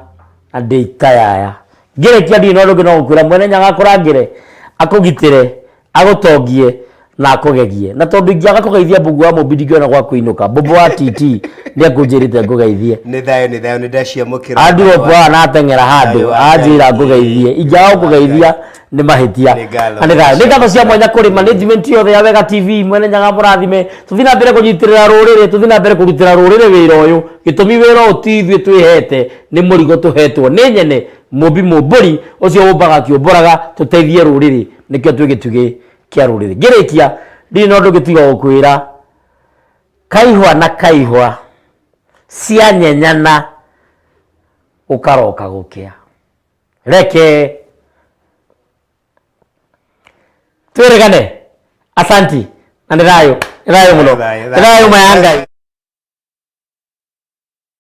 na ndĩ ikayaya ngĩrĩkia ndirĩ na ũndũ ũngĩ no gũkwĩra mwene nyagakũrangĩre akũgitĩre agũtongie na akũgegie na tondũ ingĩaga kũgeithia mbungu wa mũmbi ndingĩona gwa kũinũka mbũmbũ wa tt nĩ akũnjĩrĩte ngũgeithie nĩ thayũ nĩ thayũ nĩ ndaciamũkĩra andirop haha nateng'era handũ Thayũ wa Ngai. anjĩra ngũgeithie ingĩaga Thayũ wa gũkũgeithia nĩ mahĩtia Nĩ ngatho. Na nĩ ngatho. nĩ ngatho cia mwanya kũrĩ management yothe ya wega tv mwene nyaga mũrathime tũthiĩ na mbere kũnyitĩrĩra rũrĩrĩ tũthiĩ na mbere kũrutĩra rũrĩrĩ wĩra ũyũ gĩtũmi wĩra ũyũ ti ithuĩ twĩhete nĩ mũrigo tũhetwo nĩ nyene mũmbi mũmbũri ũcio ũmbaga akĩũmbũraga tũteithie rũrĩrĩ nĩkĩo twĩ gĩtugĩ kĩa rũrĩrĩ ngĩrĩkia ndirĩ na ũndũ gĩtiga gũkwĩra kaihwa na kaihwa cianyenyana gũkaroka gũkĩa reke twĩrĩgane asanti na nĩ thayũ nĩ thayũ mũno Thayũ, nĩ thayũ. thayũ mayangai